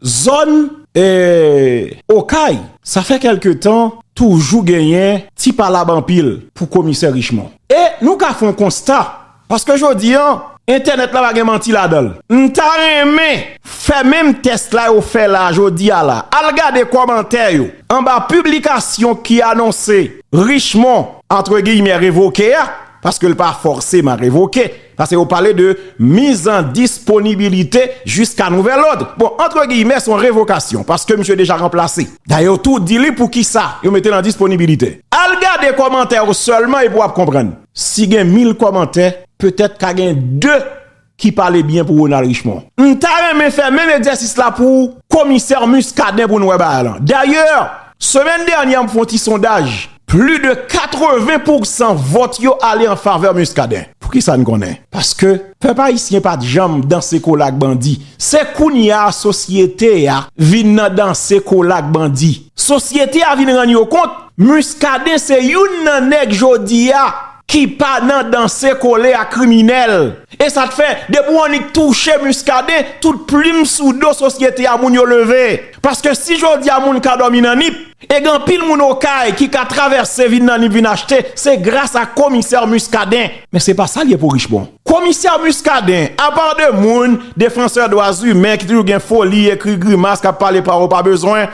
Zòn Okay, sa fè kèlke tan, toujou genyen ti palab anpil pou komisè Richemond. E nou ka fè yon konsta, paske jodi an, entènèt la pa gen manti ladan l. M ta renmen fè menm tès la yo fè la jodi a la. Al gade kòmantè yo anba piblikasyon ki anonse Richemond, antre giyimè, revoke a, paske l pa fòseman revoke. Pase yo pale de mise en disponibilité jusqu'à nouvel ordre. Bon, entre guillemets, son revokasyon, paske misye deja ranplase. Dayè yo tou di li pou kisa yo mete l an disponibilite. Al gade kòmantè yo sèlman epi w ap konprann. Si gen 1000 kòmantè, petèt ka gen 2 ki pale byen pou Ronald Richemond. M ta renmen fè menm egzèsis la pou komisè Muscadin pou n wè bagay lan. Dayè, semèn dènyè m fè yon ti sondaj. Pli de 80 pousan vòt yo ale an favè Muscadin. Pou kisa n konnen? Paske pèp ayisyen pa t janm danse kola ak bandi. Se kounye a sosyete a vin nan danse kola ak bandi. Sosyete a vin rann yo kont Muscadin se youn nan nèg jodi a ki pa nan danse kole ak kriminèl. E sa k fè depi w annik touche Muscadin, tout plim sou do sosyete a moun yo leve. Paske si jodi a moun ka dòmi nan nip. E gen anpil moun okay ki ka travèse vin nan nip vin achte se gras a komisè Muscadin. Men se pa sa l ye pou Richemond. Komisè Muscadin, apa de moun, defansè dwa zimen ki toujou gen foli, ekri grimas, k ap pale pawòl pa bezwen,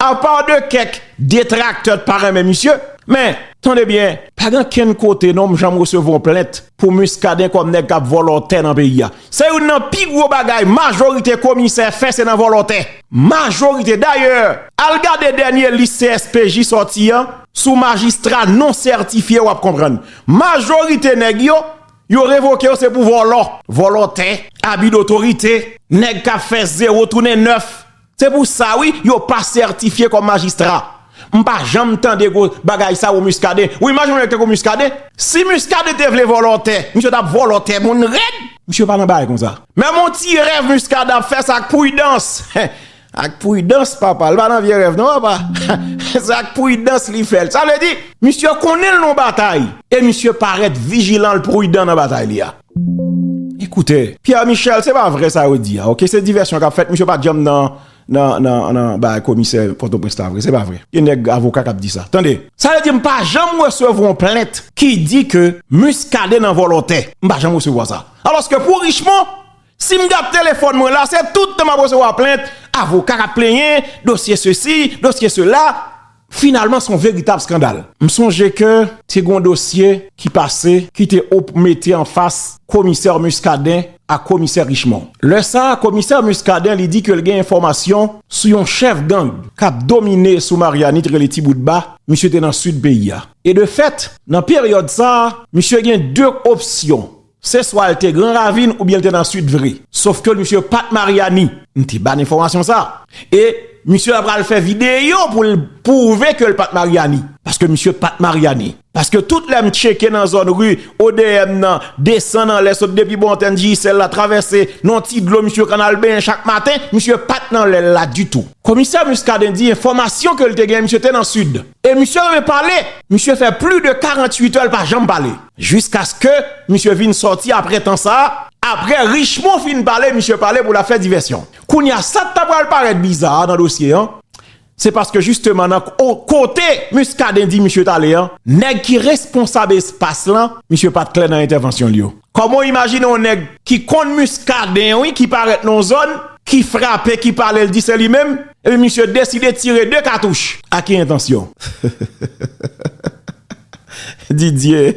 apa de kèk detraktè t pa renmen misye, men, tande byen, pa gen kenn kote non m janm resevwa yon plent pou Muscadin kòm nèg k ap vòlò tè nan peyi a. Se youn nan pi gwo bagay majorite komisè fè se nan vòlò tè. Majorite. Dayè, al gade dènye lis CSPJ sòti an sou majistra non sètifye wap konprann. Majorite nèg yo, yo revoke yo se pou vòlò. Vòlò tè, abi dotorite, nèg kap fè zewo tounen nèf, Se pou sa wi yo pa sètifye kòm majistra. M pa janm tande gwo bagay sa ou Muscadin. Ou imajine yon nèg tankou Muscadin? Si Muscadin te vle vòlò tè, misye tap vòlò tè moun rèd. Misye pa nan bagay konsa. Menm yon ti rèv Muscadin ap fè se ak pwidans. Ak pwidans papa. Li pa nan vye rèv non papa. Se ak pwidans li fè l. Sa vle di, misye konnen l nan batay e misye parèt vijilan l pwidan nan batay li a. Li koute. Pierre Michel se pa vre sa yo di a ok se divèsyon kap fèt misye pat janm nan nan bagay komisè pòtoprens la vre se pa vre gen nèg avoka kap di sa tande. Sa vle di m pa janm resevwa yon plent ki di ke Muscadin nan vòlò tè m pa janm resevwa sa alòske pou Richemond si m gad telefòn mwen la se tout tan map resevwa plent avoka kap plenyen dosye sesi dosye sela. Finalman son veritab skandal. M sonje ke te gon dosye ki pase ki te op mete an fas komisè Muscadin ak komisè Richemond. Lè sa a komisè Muscadin li di ke l gen enfòmasyon sou yon chèf gang k ap domine sou Marianit rele Ti Bout Ba, misye te nan sid peyi a. E de fèt, nan peryòd sa a, misye gen de opsyon. Se swa l te gran ravin oubyen l te nan sud vre. Sof ke misye pat Mariani. M te ba n enfòmasyon sa. E misye la pral fè videyo pou l pwouve ke l pat Mariani. Paske misye pat Mariani. Paske tout lè m tcheke nan zòn ri odm nan, desann anlè sot depi bò antèn Digicel la travèse nan ti dlo misye konn al benyen chak maten, misye pat nan lè l la ditou. Komisè Muscadin di enfòmasyon ke l te genyen misye te nan sud. E misye renmen pale. Misye fè pli de 48 è l pa janm pale. Jiskaske misye vin sòti apre tan sa a. Apre Richemond fin pale, misye pale pou l ap fè divèsyon. Kounye a, sa k ta pral parèt biza a nan dosye an, se paske jisteman nan kote Muscadin di misye t ale an, nèg ki responsab espas lan, misye pa t klè nan entèvansyon l yo. Kòman w imajine yon nèg ki konn Muscadin wi, ki parèt nan yon zòn, ki frape, ki pale, l di se li menm, epi misye deside tire de katouch? A ki entansyon? Didier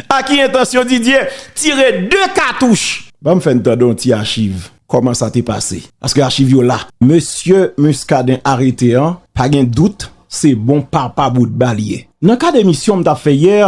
A ki entansyon Didier tire 2 katouch? Banm fè n tande yon ti achiv kòman sa te pase paske achiv yo la. Mesye Muscadin arete an pa gen dout se bon papa boutba li ye. Nan kad emisyon m tap fè yè,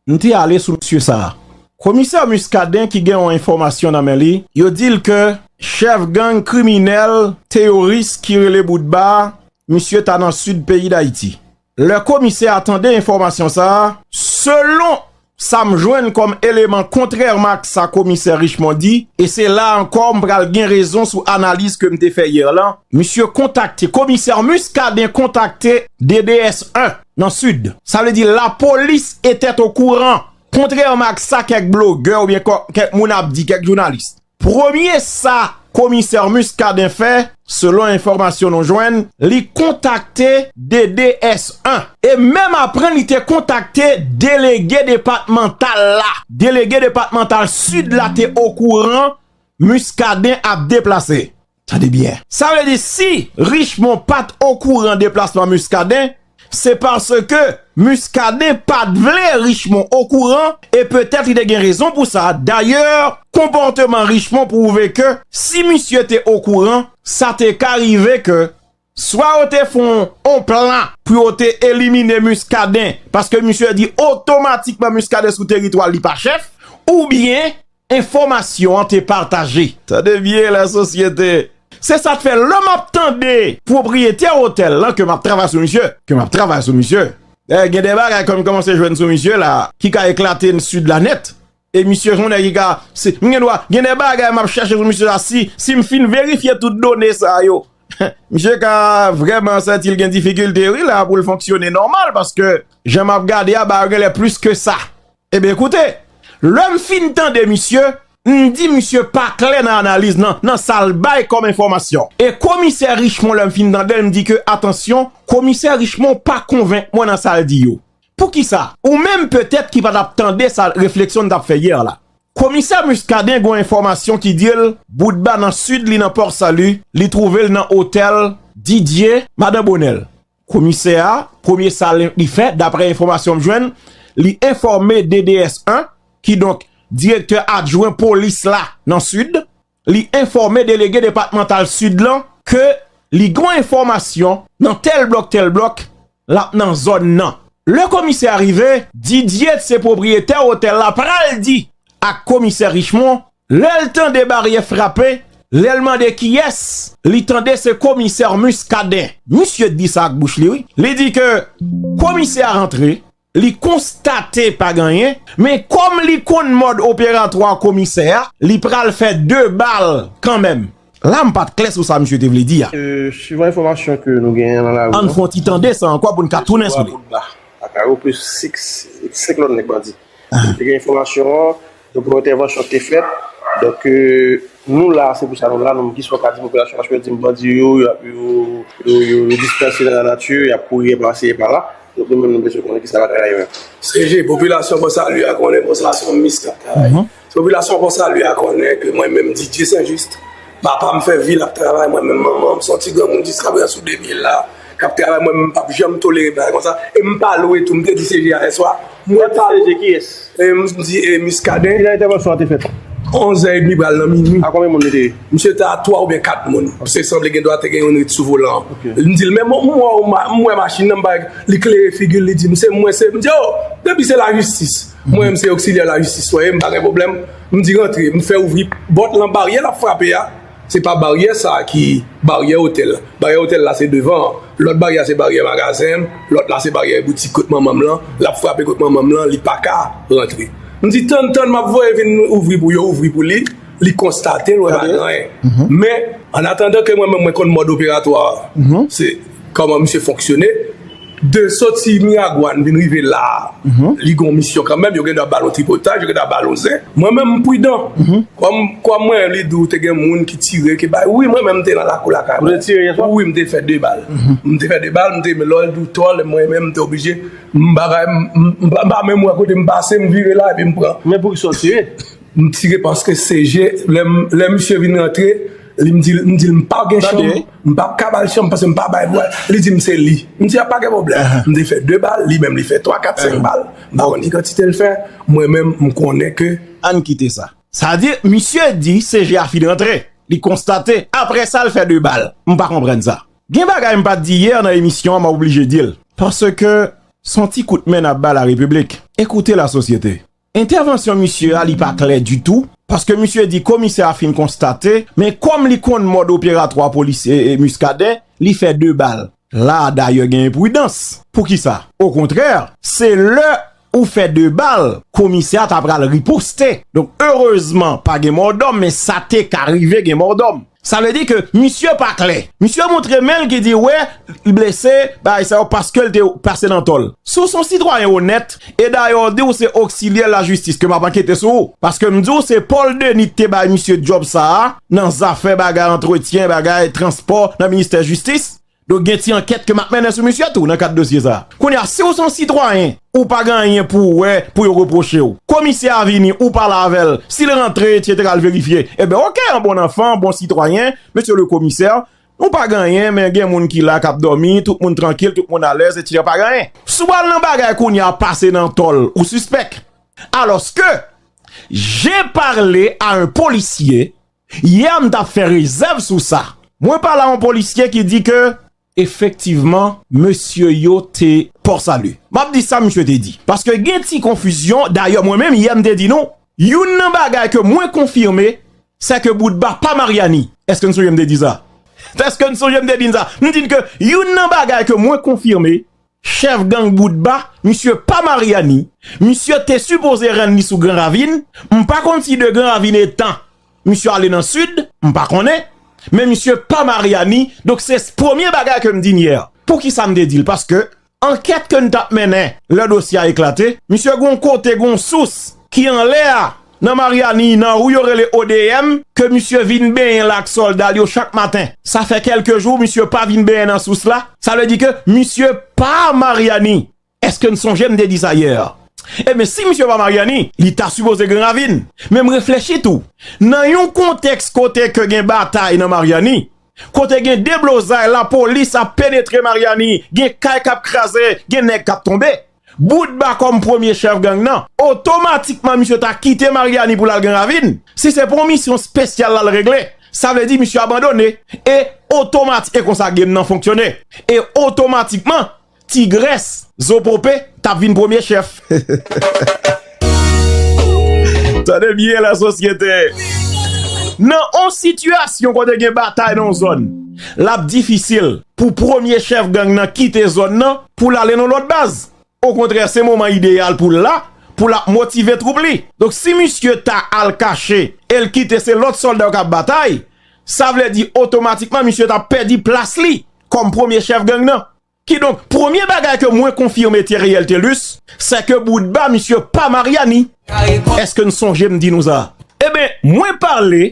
m te ale sou mesye sa. Komisè Muscadin ki gen yon enfòmasyon nan men li, yo di l ke chèf gang kriminèl teyoris ki rele Boutba a, misye ta nan Sid peyi Dayiti. Lè komisè a tande enfòmasyon sa a. Selon sa m jwenn kòm eleman kontrèman ak sa komisè Richemond di, e se la a ankò m pral gen rezon sou analiz ke m te fè yè lan, misye kontakte, komisè Muscadin kontakte DDS 1 nan Sid. Sa vle di lapolis etèt okouran, kontrèman ak sa kèk blogè oubyen kèk moun ap di, kèk jounalis. Premye sa komisè Muscadin fè, selon enfòmasyon nou jwenn, li kontakte DDS 1. E menm apre li te kontakte delege depatmantal la, delege depatmantal Sid la te okouran Muscadin ap deplase. Tande byen! Sa vle di si Richemond pa t okouran deplasman Muscadin, se paske Muscadin pa t vle Richemond okouran e petèt li te gen rezon pou sa. Dayè, konpòteman Richemond pwouve ke si misye te okouran, sa te ka rive ke Swa yo te fon on plan pou yo te elimine Muscadin paske misye di otomatikman Muscadin sou teritwa li pa chèf ou byen enfomasyon an te pataje. Tande byen la sosyete. Se sa k fè lè m ap tande pwopriyetè otèl lan ke m ap travay sou misye, ke m ap travay sou misye, gen de bagay ke m kòmanse jwenn sou misye la ki ka eklate n sid la nèt. E misye son nèg ki ka, si m gen dwa, gen de bagay m ap chèche sou misye la, si m fin verifye tout done sa yo, misye ka vrèman santi l gen difikilte wi la pou l fonksyone nòmal paske jan m ap gade a bagay yo gen lè plis ke sa. Eben koute, lè m fin tande misye, m di misye pa klè nan analiz nan, nan sa l bay kòm enfòmasyon. E komisè Richemond lè m fin tande l m di ke atansyon, komisè Richemond pa konvenk mwen nan sa l di yo. Poukisa? Ou menm petèt ki pa t ap tande sa refleksyon n t ap fè yè la. Komisè Muscadin gon enfòmasyon ki di l Boutba nan Sid li nan Port Salut, li twouve l nan otèl Didier, Madan Bonel. Komisè a, premye sa li fè, daprè enfòmasyon m jwenn, li enfòme DDS 1, kidonk direktè adjwen polis la nan Sid, li enfòme delege depatmantal Sid lan ke li gon enfòmasyon nan tèl blòk tèl blòk lap nan zòn nan. Lè komisè a rive, Didier t se pwopriyetè otèl la pral di ak komisè Richemond lèl tande baryè frape, lèl mande kiyès, li tande se komisè Muscadin. Misye t di sa ak bouch li wi, li di ke komisè a rantre Li konstate pa gen anyen, men kòm li konn mòd operatwa komisè a, li pral fè 2 bal kanmenm. La m pa t klè sou sa misye te vle di a. Suivan enfòmasyon ke nou genyen nan lari an. Ann fon ti tande sa ankò pou n ka tounen sou li. Jeswa Boutba ak arope 6 lòt nèg bandi. Te gen enfòmasyon an, Donk yon entèvansyon te fèt, donk nou la, se pou sa nou la, nou menm ki sa w ka di popilasyon paske yo di m bandi yo, yo dispanse nan lanati, y ap kouri anba si e pa la, donk nou menm nou bezwen konnen ki sa batay la ye menm. CG, popilasyon Pò Sali a konnen Pò Sali se yon mis kap travay. Popilasyon Pò Sali a konnen ke mwen menm Didye Senjist, papa m fè vi l ap travay, mwen menm manman m se yon ti granmoun jiska prezan sou de pye l la, k ap travay, mwen menm m pap janm tolere bagay konsa e m pa lwe tou, m te di CG a yè swa, Mwen pa wè. Ki yès? M di e Miskaden. Kilè entèvansyon an te fèt? Onzè edmi pral nan minui. A konbyen moun li te ye? Misye te a twa oubyen kat moun. Pske sanble gendwa te gen youn ret sou volan an. Ok. M di l, men mwen wè w, m wè machin nan, m pa wè. Li klere figi l, li di m, se mwen se. M di, o! Depi se lajistis. Mwen menm se oksilyè lajistis mwen ye, m pa gen pwoblèm. M di rantre. M fè ouvri pòt lan, baryè l ap frape a. Se pa baryè sa ki baryè otèl la. Baryè otèl la se devan an. Lòt baryè a se baryè magazen m, lòt la se baryè boutik kot manman m lan, l ap frape kot manman m lan, li pa ka rantre. M di tann, tann, m ap voye vin ouvri pou yo ouvri pou li, li konstate l wè pa gen anyen. Men, annatandan ke mwen menm mwen konn mòd operatwa a, se kòman misye fonksyone, De soti Miragwàn vin rive la a, li gen yon misyon kanmenm, yo gen dwa ba l yon tripotaj, yo gen dwa ba l yon zen. Mwen menm m pridan. Kòm kòm mwen li di w te gen moun ki tire ki bay wi mwen menm m te nan lakou lakay mwen. Ou te tire yeswa? Wi m te fè 2 bal. M te fè 2 bal, m te men lò l di w tò lè mwen menm m te oblije m bagay m m pa menm wè kote m pase m vire la epi m pran. Men poukisa w tire? M tire paske CG lè m lè misye vin rantre. Li m di l, m di l m pa gen chanm, m pa p ka ba l chanm paske m pa bay bwa. Li di m se li. M di a pa gen pwoblèm. M te fè 2 bal, li menm li fè 3, 4, 5 bal. M pa konn ki kantite l fè, mwen menm m konnen ke. Ann kite sa. Sa di, misye di CG a fin antre, li konstate, aprè sa l fè 2 bal. M pa konprann sa. Gen bagay m pa t di yè nan emisyon an m ap oblije di l. Paske s on ti kout men n ap ba larepiblk. Ekoute lasosyete. Entèvansyon misye a li pa klè ditou, paske misye di komisè a fin konstate, men kòm li konn mòd operatwa polis Muscadin, li fè 2 bal. La a dayè gen enpridans. Poukisa? Okontrè, se lè ou fè 2 bal, komisè a ta pral riposte. Donk erezman pa gen mòdòm, men sa te ka rive gen mòdòm. Sa vle di ke misye pa klè. Misye montre men l ki di wè l blese bagay sa yo paske l te pase nan tò l. Si w se yon sitwayen onèt, e dayè w di w se oksilyè lajistis ke m ap ankete sou ou. Paske m di w se Paul Denis ki te bay misye djòb sa a nan zafè bagay antretyen, bagay transpò nan ministè jistis. Donk gen ti ankèt ke map mennen sou misye tou nan kad dosye sa. Kounye a, si w son sitwayen, ou pa gen anyen pou w wè, pou yo repwoche w. Komisè a vini, ou pale avè l, si l rantre etc l verifye, eben ok an bon anfan, an bon sitwayen, Mesye le komisè, nou pa gen anyen men gen moun ki la kap dòmi, tout moun trankil, tout moun alèz etc pa gen anyen. Si w al nan bagay kounye a, pase nan tòl, ou sispèk. Alòske, j'ai parlé à un policier Hier m tap fè rezèv sou sa. Mwen pale a yon polisye ki di ke. Efektivman mesye yo te. Port Salut. M ap di sa misye te di. Paske gen ti konfizyon. Dayè mwen menm yè m te di nou. Youn nan bagay ke mwen konfime. Se ke Boutba pa Maryani. Eske n sonje m te di sa? Eske n sonje m te di n sa? M di n ke youn nan bagay ke mwen konfime. Chèf gang Boutba, misye pa Maryani, misye te sipoze rann li sou Gran Ravin, m pa konn si de Gran Ravin etan misye ale nan Sid, m pa konnen, men misye pa Maryani, donk se premye bagay ke m di n yè. Poukisa m te di l? Paske ankèt ke n t ap mennen lè dosye a eklate, misye gen yon kote, gen yon sous ki anlè a Nan Mariani, nan rue yo rele ODM, ke misye vin benyen la ak sòlda l yo chak maten. Sa fè kèlke jou misye pa vin benyen nan sous la, sa vle di ke misye pa Mariani. Eske n sonje m te di sa yè? Ebyen, si misye pa Mariani, li ta sipoze Gran Ravin. Men m reflechi tou, nan yon kontèks kote ke gen batay nan Mariani, kote gen deblozay, lapolis ap penetre Mariani, gen kay k ap kraze, gen nèg k ap tonbe, Boutba kòm premye chèf gang nan, otomatikman misye ta kite Maryani pou l al Gran Ravin. Si se pou yon misyon spesyal l al regle, sa vle di misye abandone e otomat e konsa game nan fonksyone. E otomatikman, Tigrès, Zopope, t ap vin premye chèf. Tande byen la sosyete. Nan yon sitiyasyon kote gen batay nan yon zòn, l ap difisil pou premye chèf gang nan kite zòn nan pou l ale nan yon lòt baz. Okontrè se moman ideyal pou l la pou l ap motive twoup li. Donk si misye ta al kache e l kite se lòt sòlda yo k ap batay, sa vle di otomatikman misye t ap pèdi plas li kòm premye chèf gang nan. Kidonk, premye bagay ke mwen konfime Theriel Thelus, sè ke boutba misye pa Mariani. Eske n sonje m di nou sa? Eben, mwen pale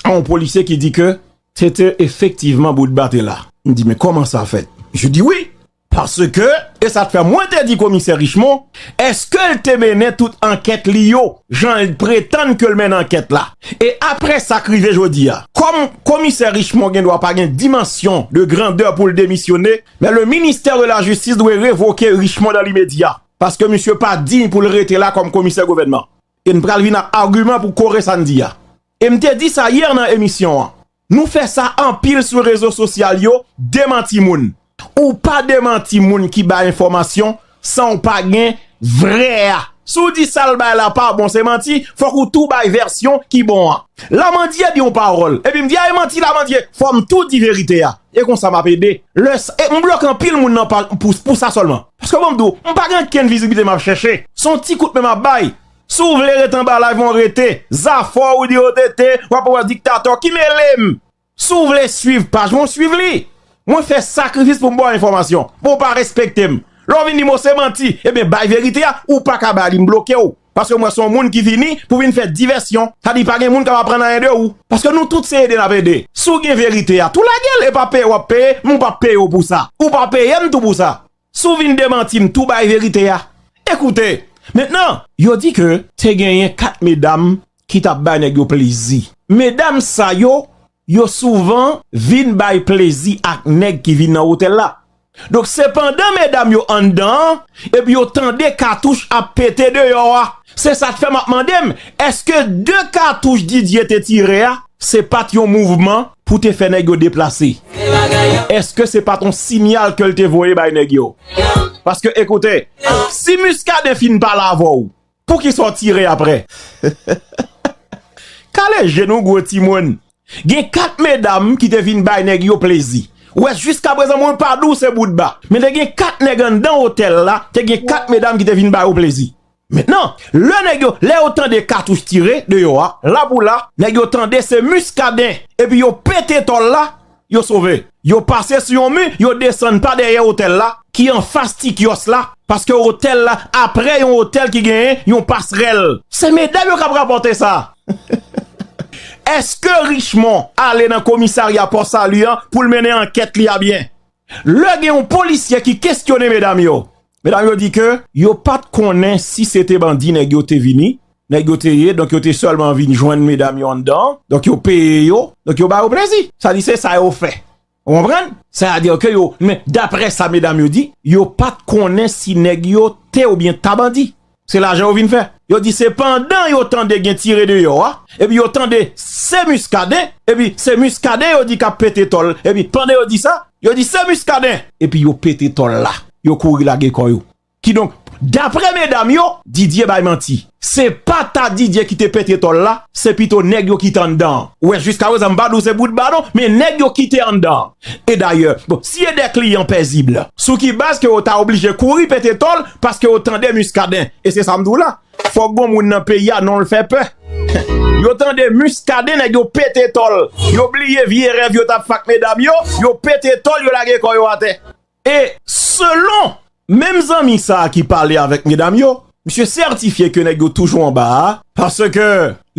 a yon polisye ki di ke se te efektivman boutba te la. M di men kòman sa fèt? Misye di wi, paske, e sa k fè mwen te di komisè Richemond, Eske l te mennen tout ankèt li yo jan l pretann ke l mennen ankèt la? E apre sa k rive jodi a? Kòm Komisè Richemond gen dwa pa gen dimansyon de grandè pou l demisyone, men le ministère de la justice dwe revoke Richemond dan limedya, paske misye pa diy pou l rete la kòm Komisè Gouvènman. E n pral vin ak agiman pou kore sa n di a. E m te di sa yè nan emisyon an. Nou fè sa anpil sou rezo sosyal yo, demanti moun. Ou pa demanti moun ki bay enfòmasyon san w pa gen vrè a. Si w di sa l bay la pa bon, se manti, fòk ou tou bay vèsyon ki bon an. Lamandye di yon pawòl, epi m di a e manti Lamandye, fò m tou di verite a. E konsa m ap ede. Lè sa, e m bloke anpil moun nan pa pou sa sèlman. Paske bon m di w, m pa gen ankenn viziblite m ap chèche. Se yon ti kout men m ap bay, Si w vle ret anba live mwen rete. Zafè w di yo te te wap anba diktatè ki mele m. Si w vle swiv paj mwen swiv li. Mwen fè sakrifis pou m ba w enfòmasyon. Men w pa respekte m. Lè w vin di m se manti ebyen bay verite a ou pa ka ba li m bloke w. Paske m wè se yon moun ki vini pou vin fè divèsyon. Sa di pa gen moun k ap aprann anyen de ou. Paske nou tout se ede n ap ede. Si w gen verite a tou lage l e pa peye w ap peye men w pa peye w pou sa. Ou pa peye m tou pou sa. Si w vin demanti m tou bay verite a. Ekoute! Mentnan! Yo di ke te genyen 4 medam ki t ap bay nèg yo plezi. Medam sa yo, yo souvan vin bay plezi ak nèg ki vin nan otèl la. Donk se pandan medam yo anndan an epi yo tande katouch ap pete deyò a Se sa k fè m ap mande m, èske de katouch Didier te tire a, se pa t yon mouvman pou te fè nèg yo deplase? Èske se pa t yon sinyal ke l te voye bay nèg yo? Paske ekoute, si Muscadin fin pale avè w, poukisa w tire aprè? Kale je nou gwo timoun. Gen 4 medam ki te vin bay nèg yo plezi. Ou wè jiskaprezan mwen pa di w se boutba. Men te gen 4 nèg anndan otèl la, te gen 4 medam ki te vin ba yo plezi. Mentnan, lè nèg yo, lè yo tande katouch tire deyò a, la pou la, nèg yo tande se Muscadin epi yo pete tòl la, yo sove. Yo pase sou yon mi, yo desann pa dèyè otèl la ki anfas ti kyòs la, paske otèl la apre yon otèl ki genyen yon pasrèl. Se medam yo k ap rapòte sa! Èske Richemond ale nan komisarya Pò Sali an pou l mennen ankèt li a byen? Lè gen yon polisye ki kesyone medam yo, Medam yo di ke yo pat konnen si se te bandi nèg yo te vini, nèg yo te ye, donk yo te sèlman vin jwenn medam yo anndan an, donk yo peye yo, donk yo ba yo plezi. Sa di se sa yo fè. Ou konprann? Sè a di ke yo, men daprè sa medam yo di, yo pat konnen si nèg yo te oubyen ta bandi. Se lajan yo vin fè. Yo di se pandan yo tande gen tire deyò a, epi yo tande se Muscadin, epi se Muscadin yo di kap pete tòl, epi pandan yo di sa, yo di se Muscadin! Epi yo pete tòl la, yo kouri lage kò yo. Kidonk, daprè medam yo, Didier bay manti. Se pa ta Didier ki te pete tòl la, se pito nèg yo ki te anndan an. Ou wè jiskaprezan m pa di w se boutba non, men nèg yo ki te anndan an. E dayè, si e de kliyan pèzib la, sou ki baz ke yo ta oblije kouri pete tòl paske yo tande Muscadin? E se sa m di w la, fòk gon moun nan peyi a non l fè pè. Yo tande Muscadin, nèg yo pete tòl. Yo bliye vye rèv yo t ap fè ak medam yo, yo pete tòl, yo lage kò yo atè. E selon menm zanmi sa a ki pale avèk medam yo, misye sètifye ke nèg yo toujou anba a, paske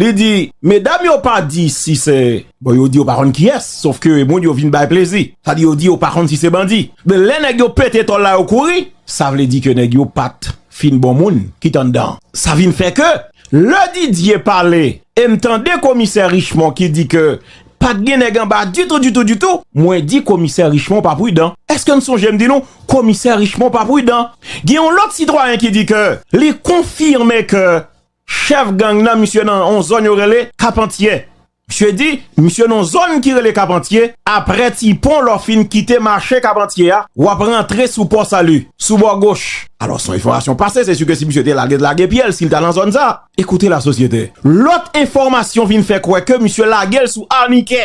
li di medam yo pa di si se, bon yo di yo pa konn kiyès, sof ke moun yo vin bay plezi, sa di yo di yo pa konn si se bandi. Men lè nèg yo pete tòl la yo kouri, sa vle di ke nèg yo pa t fin bon moun ki t anndan an. Sa vin fè ke lè Didier pale e m tande komisè Richemond ki di ke Pat gen nèg anba ditou ditou ditou. Mwen di komisè Richemond pa prudan. Eske n sonje m di nou komisè Richemond pa prudan. Gen yon lòt sitwayen ki di ke li konfime ke chèf gang nan misye nan yon zòn yo rele Kapantyè. Misye di misye nan yon zòn ki rele Kapantyè, aprè ti pon lè w fin kite mache Kapantyè a w ap rantre sou Pò Sali, sou bò goch. Alò s yon enfòmasyon pase se si ke si misye te lage lage pye l si l ta nan zòn sa. Écoutez la société! Lòt enfòmasyon vin fè kwè ke misye lage l sou Arnike!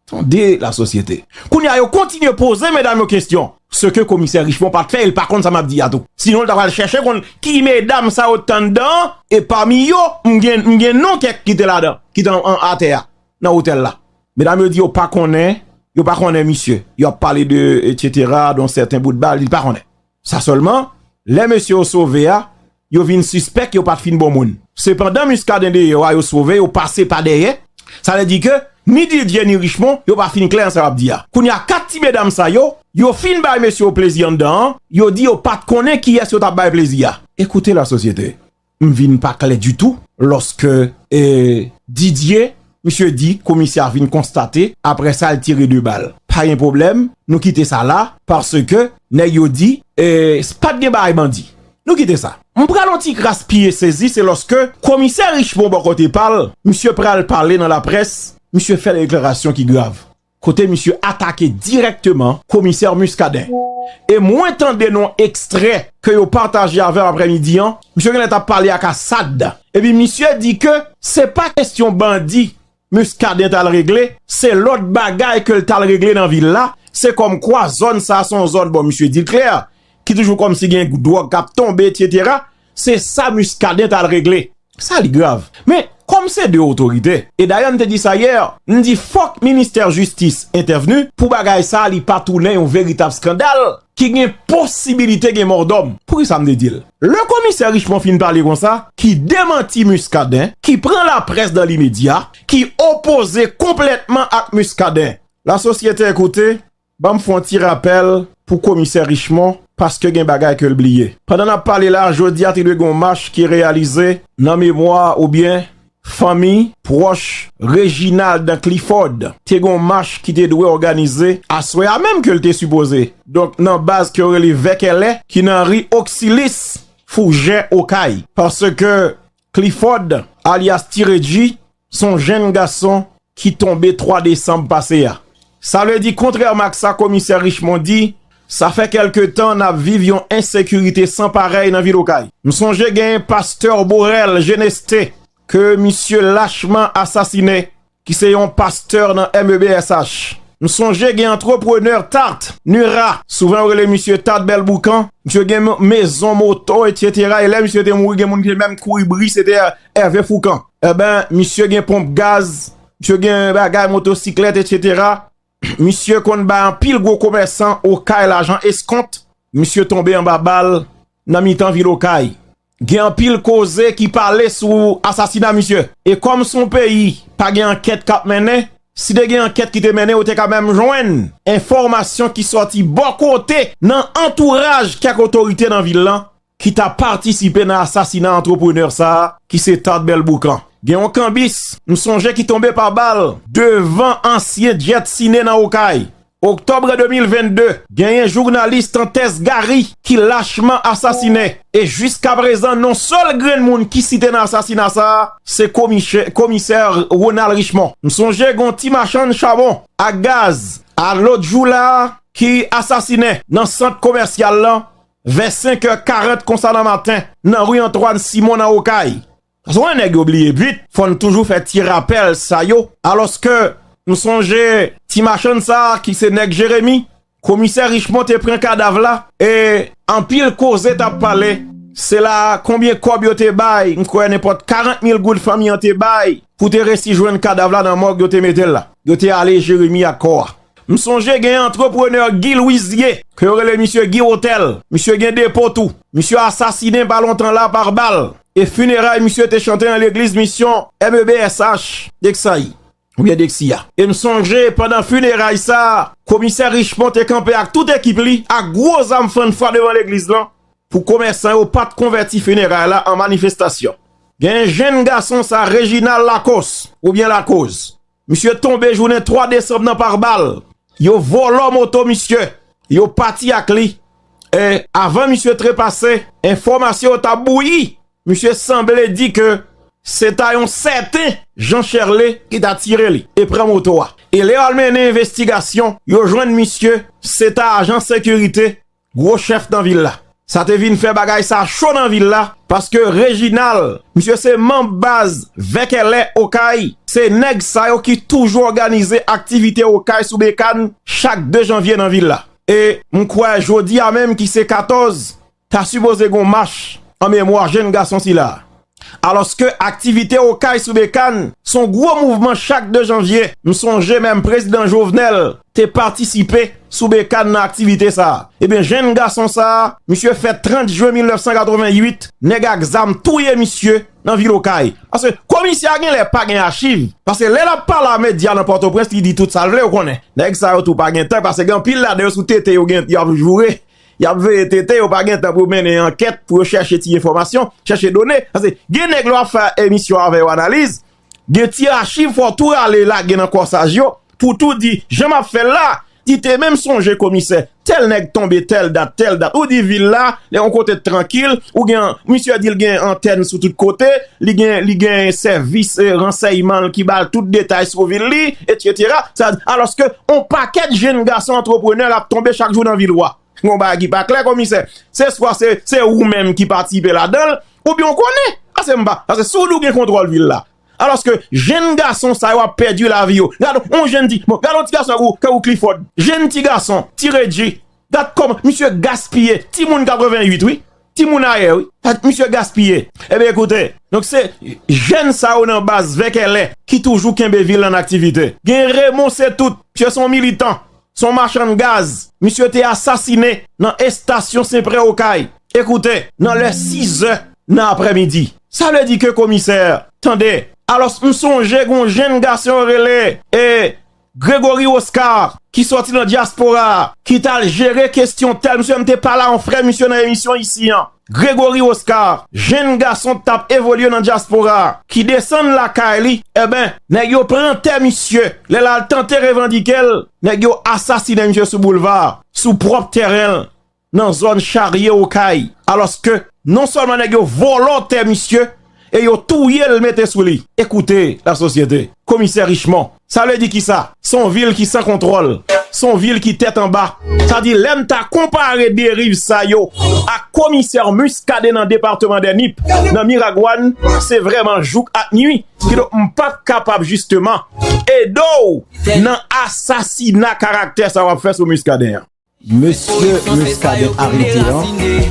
Tande la sosyete! Kounye a yo kontinye poze medam yo kesyon. Se ke komisè Richemond pa t fè e l pa konn sa m ap di a tou. Sinon l ta pral chèche konn ki medam sa yo t anndan an. E pami yo, m gen m gen non kèk ki te ladan, ki te an atè a, nan otèl la. Medam yo di yo pa konnen, yo pa konnen misye. Yo ap pale de etsetera, don sèten bout bal, li pa konnen. Sa sèlman, lè mesye yo sove a, yo vin sispèk yo pa t fin bon moun. Se pandan Muscadin deyò a yo sove yo pase pa dèyè, sa vle di ke ni Didier ni Richemond yo pa fin klè nan sa yo ap di a. Kounye a 4 ti medam sa yo, yo fin bay mesye yo plezi anndan an, yo di yo pa t konnen kiyès yo t ap bay plezi a. Ekoute la sosyete, M vin pa klè ditou lòske Didye, misye di komisè a vin konstate aprè sa l tire 2 bal. Pa gen pwoblèm, nou kite sa la paske nèg yo di pa t gen bagay bandi. Nou kite sa. M pran yon ti kras pye sezi se lòske komisè Richemond bò kote pa l, misye pral pale nan laprès, misye fè deklarasyon ki grav. kote misye atake dirèkteman komisè Muscadin. E mwen tande nan yon ekstrè ke yo pataje avèm aprè midi an, misye genlè tap pale ak Assad, epi misye di ke se pa kestyon bandi Muscadin tal regle, se lòt bagay kel tal regle nan vil la, se kòm kwa zòn sa se yon zòn, bon misye dil klè, ki toujou kòmsi gen dwòg kap tonbe etc. Se sa Muscadin tal regle. Sa li grav. Men, kòm se 2 otorite, e dayè m te di sa hier, m di fòk ministè jistis entèvni pou bagay sa li pa tounen yon veritab skandal ki gen posibilite gen mòdòm. Poukisa m te di l? Lè komisè Richemond fin pale konsa, ki demanti Muscadin, ki pran laprès dan limedya, ki opoze konplètman ak Muscadin. Lasosyete ekoute, Banm fon ti rapèl pou komisè Richemond paske gen bagay ke l bliye. Pandan nap pale la jodi a te dwe gen yon mach ki reyalize nan memwa oubyen fanmi pwòch Reginald dan Clifford. Te gen yon mach ki te dwe òganize aswè a menm ke l te sipoze. Donk nan baz ke yo rele Vèkèlè ki nan ri Oksilis Foujè Okay. Paske Clifford alyas Ti Redji s on jenn gason ki tonbe 3 desanm pase a. Sa vle di kontrèman ak sa komisè Richemond di, sa fè kèlke tan n ap viv yon ensekirite san parèy nan vil Okay. M sonje gen pastè Borel Geneste ke misye lachman asasine ki se yon pastè nan MEBSH. M sonje gen antreprenè Tart, Nura, souvan yo rele misye Tart Bèl Boukan, misye gen mezon moto etsetera e lè misye te mouri gen moun ki te menm kouri bri se te Hervé Fourcand. Enben, misye gen ponp gaz, misye gen bagay motosiklèt etsetera. Misye konn bay anpil gwo komèsan Okay lajan eskont, misye tonbe anba bal nan mitan vil Okay. Gen anpil koze ki pale sou asasina misye. E kòm se yon peyi pa gen ankèt k ap mennen, si te gen ankèt ki te mennen yo te ka menm jwenn enfòmasyon ki sòti bò kote nan antouraj kèk otorite nan vil lan ki ta patisipe nan asasina antreprenè sa a ki se Thad Belboucan. Gen yon kanbis m sonje ki tonbe pa bal devan ansyen Jet Cine nan Okay. Oktòbre 2022, genyen jounalis Tantès Gary ki lachman asasine e jiskaprezan non sèl grenn moun ki site nan asasina sa a se komisè Ronald Richemond. M sonje gon ti machann chabon ak gaz a lòt jou la a ki asasine nan sant komèsyal lan vè 5 è 40 konsa nan maten nan ri Antwàn Simon nan Okay. Sa son lè nèg yo bliye bit, fò n toujou fè ti rapèl sa yo, alòske m sonje ti machann sa ki se nèg Jeremi, komisè Richmon te pran kadav la e anpil koze t ap pale, se la konbyen kòb yo te bay, m kwè nenpòt 40 mil goud fanmi an te bay pou te resi jwenn kadav la nan mòg yo te mete l la. Yo te ale Jeremi ak kò a. M sonje gen antreprenè Guy Louisier ke yo rele misye Guy Hotel, misye gen depo tou. Misye asasinen pa lontan la par bal e funeray misye te chante nan legliz misyon MEBSH Dexaï ou byen Dexy a. E m sonje pandan funeray sa komisè Richemond te kanpe ak tout ekip li ak gwo zam fann fwa devan legliz lan pou komèsan yo pat konvèti funeray la an manifestasyon. Gen jenn gason sa Reginald Lacoste ou byen Lakoz Misye tonbe jounen 3 desanm nan par bal. Yo vòlò moto misye. Yo pati ak li. E avan misye trepase, enfòmasyon yo ta bouyi. Misye sanble di ke se ta yon sèten Jean Cherlé ki ta tire li e pran moto a. E lè yo al mennen envestigasyon, yo jwenn misye se ta ajan sekirite Gwo chèf nan vil la. Sa te vin fè bagay sa cho nan vil la paske Reginald, misye se manb baz Vèkèlè Okay, se nèg sa yo ki toujou òganize aktivite Okay sou Bekann chak 2 janvye nan vil la. E m kwè jodi a menm ki se 14 ta sipoze gon mach an memwa jenn gason sila a. Alòske aktivite Okay sou Bekan s on gwo mouvman chak 2 janvye, m sonje menm Prezidan Jovenel te patisipe sou Bekan nan aktivite sa a. Ebyen jenn gason sa a, misye fèt 30 jwen 1988, nèg ak zam touye misye nan vil Okay. Paske komisè a genlè pa gen achiv, paske lè l ap pale a medya nan Pòtoprens li di tout sa l vle, ou konnen nèg sa yo tou pa gen tan, paske gen anpil ladan yo sou tete yo gen yo ap joure Y ap veye tete, yo pa gen tan pou yo mennen ankèt, pou yo chèche ti enfòmasyon, chèche done. Paske gen nèg lè w ap fè emisyon avè yo analiz, gen ti achiv fò w tou rale lage nan kòsaj yo pou w tou di jan m ap fè l la, di te menm sonje komisè tèl nèg tonbe tèl dat, tèl dat. Ou di vil la, lè yon kote t trankil, ou gen, misye di l gen antèn sou tout kote, Li gen, li gen sèvis ransèyman l ki ba l tout detay sou vil li, etsetera. Sa, alòske on pakèt jenn gason antreprenè l ap tonbe chak jou nan vil ou a. Gen yon bagay ki pa klè, Komisè. Se swa se, se ou menm ki patisipe ladan l, oubyen ou konnen. Pase m pa, pase si w di w gen kontwòl vil la, alòske jenn gason sa yo ap pèdi lavi yo. Gad on jenn ti, bon, gad on ti gason tankou, tankou Clifford. Jenn ti gason, ti Redji, Gad kòman misye gaspiye timoun 88 wi, timoun ayè wi. Gad misye gaspiye. Enben ekoute, donk se jèn sa yo nan baz Vèkèlè ki toujou kenbe vil la an aktivite. Gen Remon Setout, misye se yon militan, se yon machann gaz. Misye te asasine nan estasyon Senprè Okay. Ekoute, nan lè sizè nan aprèmidi. Sa vle di ke komisè, tande, alòs m sonje gen yon jenn gason yo rele e. Gregory Oscar ki sòti nan dyaspora a ki t al jere kesyon tèl misye mte pale a yon frè misye nan emisyon isi an Gregory Oscar jenn gason k tap evolye nan dyaspora a ki desann lakay li enben nèg yo pran tè misye lè l al tante revandike l nèg yo asasine misye sou boulva a sou pwòp tèren l nan zòn charye okay alòske non sèlman nèg yo vòlò tè misye e yo touye l mete sou li e koute la sosyete komisè richemon sa vle di kisa se yon vil ki san kontwòl se yon vil ki tèt anba sa vle di lè n ta konpare deriv sa yo ak komisè muscadin nan departeman dè nip nan miragwàn se vrèman jouk ak nwi ki donk m pa p kapab jisteman ede w nan asasina karaktè sa w ap fè sou muscadin an. Mesye Muscadin arete an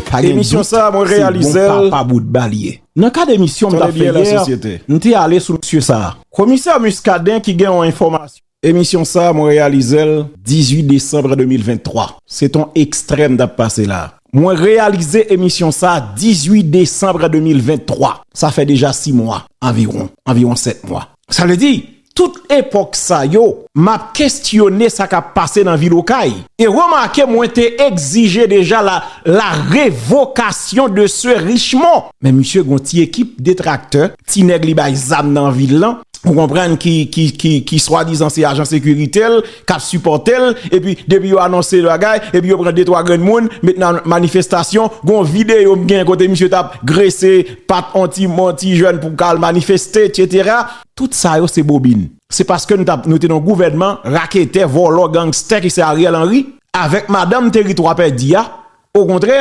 pa gen dout se bon papa boutba li ye. Nan kad emisyon m tap fè yè, m te ale sou mesye sa. Komisè Muscadin ki gen yon enfòmasyon. Emisyon sa mwen reyalize l 18 desanbre 2023. Se t on ekstrè m tap pase la. Mwen reyalize emisyon sa 18 desanbre 2023. Sa fè deja 6 mwa anviwon, anviwon 7 mwa. Sa vle di, Tout epòk sa yo, m ap kestyone sa k ap pase nan vil Okay. E remake mwen te egzije deja la la revokasyon de se Richemond. Men misye gen yon ti ekip detraktè, ti nèg li bay zam nan vil lan, ou konprann ki ki ki ki swadizan se ajan sekirite l, k ap sipòte l. Epi depi yo anonse yon bagay, epi yo pran de twa grenn moun met nan manifestasyon. Gen yon videyo m gen kote misye t ap grese pat yon ti yon ti jèn pou k al manifeste etsetera. Tout sa yo se bobin. Se paske nou tap nou te nan gouvènman raketè vòlò gangstè ki se Ariel Henry avèk madanm teritwa pèdi a okontrè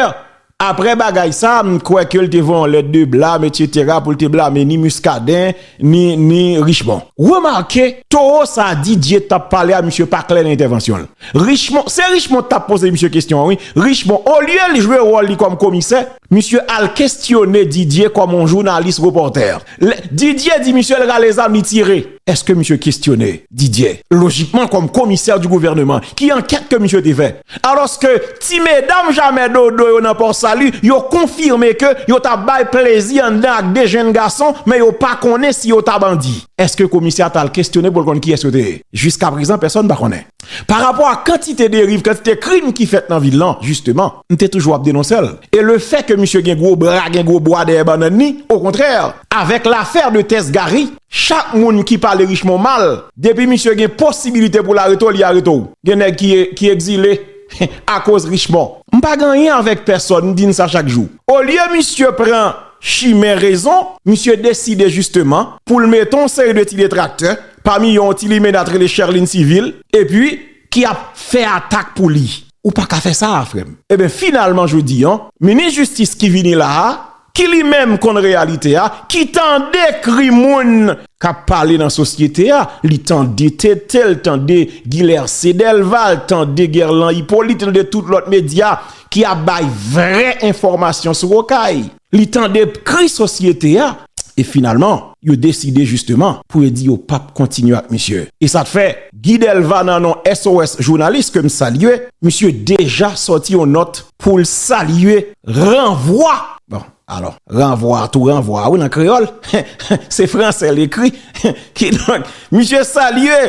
aprè bagay sa m kwè ke l te voye yon lèt de blam etc pou l te blame ni Muscadin ni ni Richemond. Remake towo sa Didier tap pale a misye pa klè nan entèvansyon l Richemond se Richemond k tap poze misye kesyon an wi Richemond olye l jwe wòl li kòm komisè misye al kesyone Didier kòm yon jounalis repòtè. Lè Didier di misye l rale zam li tire, èske misye kestyone Didier lojikman kòm komisè di gouvèneman? Ki ankèt ke misye te fè? Alòske ti medam jamè dodo yo nan Pò Sali yo konfime ke yo ta bay plezi anndan ak 2 jenn gason men yo pa konnen si yo ta bandi. Èske komisè a ta al kestyone pou l konn kiyès yo te ye? Jiskaprezan pèsòn pa konnen. Parapò a kantite deriv, kantite krim ki fèt nan vil lan jisteman. m te toujou ap denonse l e le fè ke misye gen gwo bra gen gwo bwa dèyè bannann ni o kontrè avèk lafè de tès Gary chak moun ki pale Richemond mal depi misye gen posibilite pou l arete w li arete w gen nèg ki ki egzile akoz Richemond. M pa gen anyen avèk pèsòn m di n sa chak jou olye misye pran chimen rezon misye deside jisteman pou l mete on seri de ti detraktè pami yo on ti limenna t rele Cherline Civil epi ki ap fè atak pou li. Ou pa ka fè sa a frè m. Eben finalman jodi an, minis jistis ki vini la a, ki li menm konn reyalite a, ki tande kri moun k ap pale nan sosyete a, li tande TT, li tande Guilhercé Delva, li tande Guerlan Hyppolite, li tande tout lòt medya ki ap bay vrè enfòmasyon sou Okay. Li tande kri sosyete a e finalman yo deside jisteman pou yo di yo pap kontinye ak misye. E sa fè Guy Delva nan non SOS Jounalis ke m salye, misye deja sòti yon nòt pou l salye ranvwa, bon alò ranvwa tou ranvwa wi nan kreyòl, se fransè l ekri, kidonk misye salye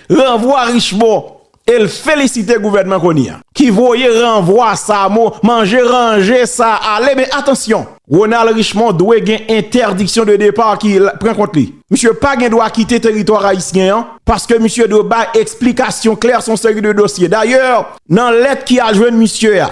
ranvwa Richemond e l felisite gouvènman Kony an ki voye ranvwa sa mo manje ranje sa ale men atansyon Ronald Richemond dwe gen entèdiksyon de depa ki pran kont li misye pa gen dwa kite teritwa rayisyen an paske misye dwe bay eksplikasyon klè son seri de dosye dayè nan lèt ki al jwenn misye a.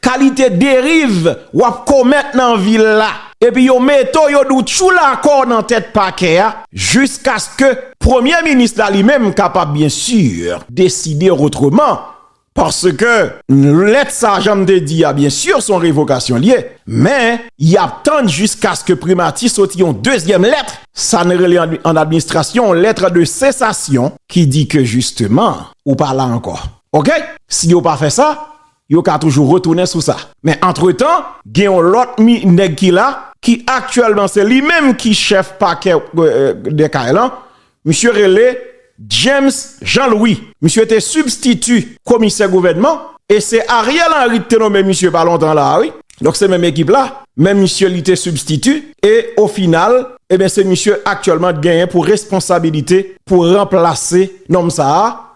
Kalite deriv wap komèt nan vil la. Epi yo mete w yo di w tjou lakò nan tèt pakè a jiskaske premye minis la li menm kapab byen sur deside otreman paske lèt sa jan m te di a byen sur son revokasyon l ye men yap tann jiskaske primati soti yon dezyèm lèt sa n rele an administrasyon yon lettre de cessation ki di ke jisteman ou pa la ankò ok si yo pa fè sa Yo ka toujou retounen sou sa. Men antretan, gen yon lòt nèg ki la, ki aktyèlman se li menm ki chèf pakè Dè Kay lan, misye rele James Jean Louis. Misye te sibstiti komisè gouvènman e se Ariel Henry ki te nome misye pa lontan la a wi. Donk se menm ekip la, men misye li te sibstiti e o final, eben se misye aktyèlman ki genyen pou responsabilite pou ranplase nonm sa a.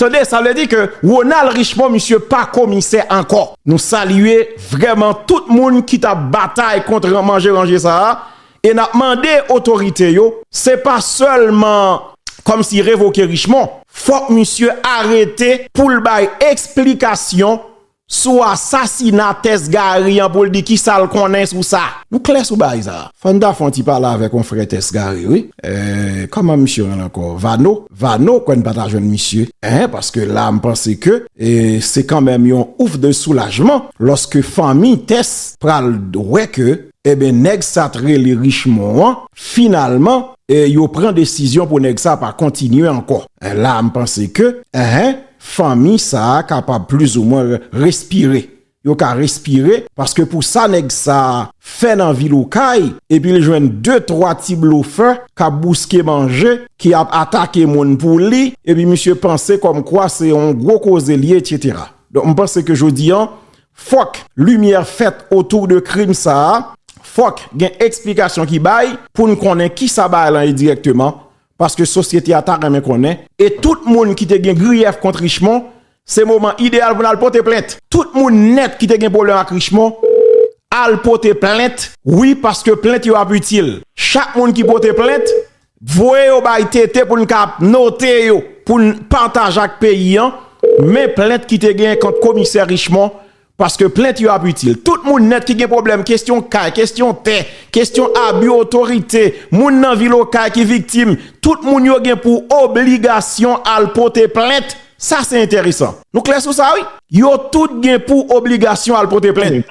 Tande sa vle di ke Ronald Richemond misye pa komisè ankò. Nou salye vrèman tout moun ki ta batay kont manje ranje sa a e n ap mande otorite yo se pa sèlman kòmsi revoke Richemond fòk misye arete pou l bay eksplikasyon Sou asasina Tess Gary an pou l di kisa l konnen sou sa. Nou klè sou bagay sa. Fò n ta fè yon ti pale avè konfrè Tess Gary wi. Kòman misye rele ankò? Vano? Vano kwè n pa ta jwenn misye hein paske la m panse ke se kanmenm yon ouf de soulajman lòske fanmi Tess pral wè ke eben nèg sa t rele Richemond an finalman yo pran desizyon pou nèg sa pa kontinye ankò la m panse ke hein Fanmi sa a kapab plizoumwen respire. Yo ka respire paske pou sa nèg sa a fè nan vil Okay epi l jwenn de twa ti blofè k ap bouske manje, ki ap atake moun pou li epi misye panse kòmkwa se yon gwo koze l ye etsetera. Donk m panse ke jodi an fòk limyè fèt otou de krim sa a, fòk gen eksplikasyon ki bay pou n konnen kisa bagay lan ye dirèkteman paske sosyete a ta renmen konnen. E tout moun ki te gen griyèf kont Richemond, se moman ideyal pou n al pote plent. Tout moun nèt ki te gen pwoblèm ak Richemond, al pote plent, wi paske plent yo ap itil. Chak moun ki pote plent, voye yo bay TT pou n ka ap note yo, pou n pataje ak peyi an, men plent ki te gen kont komisè Richemond, Paske plent yo ap itil. Tout moun nèt ki gen pwoblèm kestyon kay, kestyon tè, kestyon abi otorite, moun nan vil okay ki viktim, tout moun yo gen pou obligasyon al pote plent. Sa se enteresan. Nou klè sou sa wi. Yo tout gen pou obligasyon al pote plent.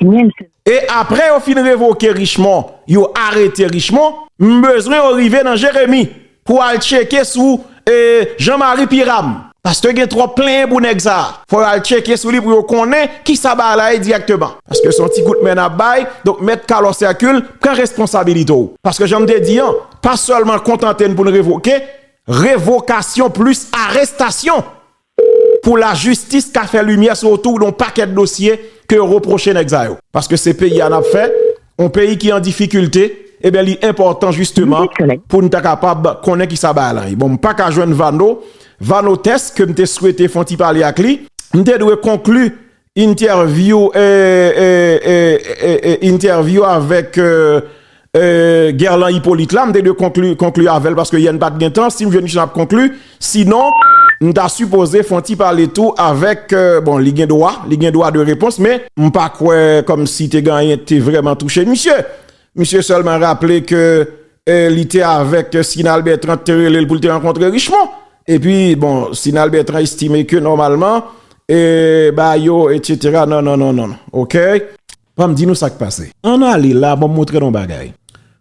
E apre yo fin revoke Richemon, yo arete Richemon, m bezwen yo rive nan Jeremi. Pou al tcheke sou Jean Marie Piram. Paske gen twòp plenyen pou nèg sa. Fò yo al tcheke sou li pou yo konnen kisa bagay la ye dirèkteman. Paske se yon ti kout men nap bay. Donk mèt Carlos Hercule pran responsabilite w. Paske janm te di an, pa sèlman kontante n pou n revoke. Revokasyon plis arestasyon Pou la jistis ka fè limyè sou otou yon pakèt dosye ke yo repwoche nèg sa yo. Paske se peyi a nap fè, yon peyi ki an difikilte, eben li enpòtan jisteman pou n ta kapab konnen kisa bagay lan ye. Bon m paka jwenn Vano, Vano Tès ke m te swete fon ti pale ak li. M te dwe konkli Interview Interview avèk Guerlan Hyppolite la m te dwe konkli avè l paske yè n pa t gen tan si m jwenn chans m ap konkli sinon m ta sipoze fon ti pale tou avèk bon li gen dwa li gen dwa de repons men m pa kwè kòmsi te gen anyen ki te vrèman touche misye misye sèlman raple ke li te avèk Sinal Bertrand ki te rele l pou l te rankontre Richemond Epi bon Sinal Bertrand estime ke nòmalman e ba yo etc non non non non ok. Banm di nou sak pase. Ann ale la banm montre nou bagay.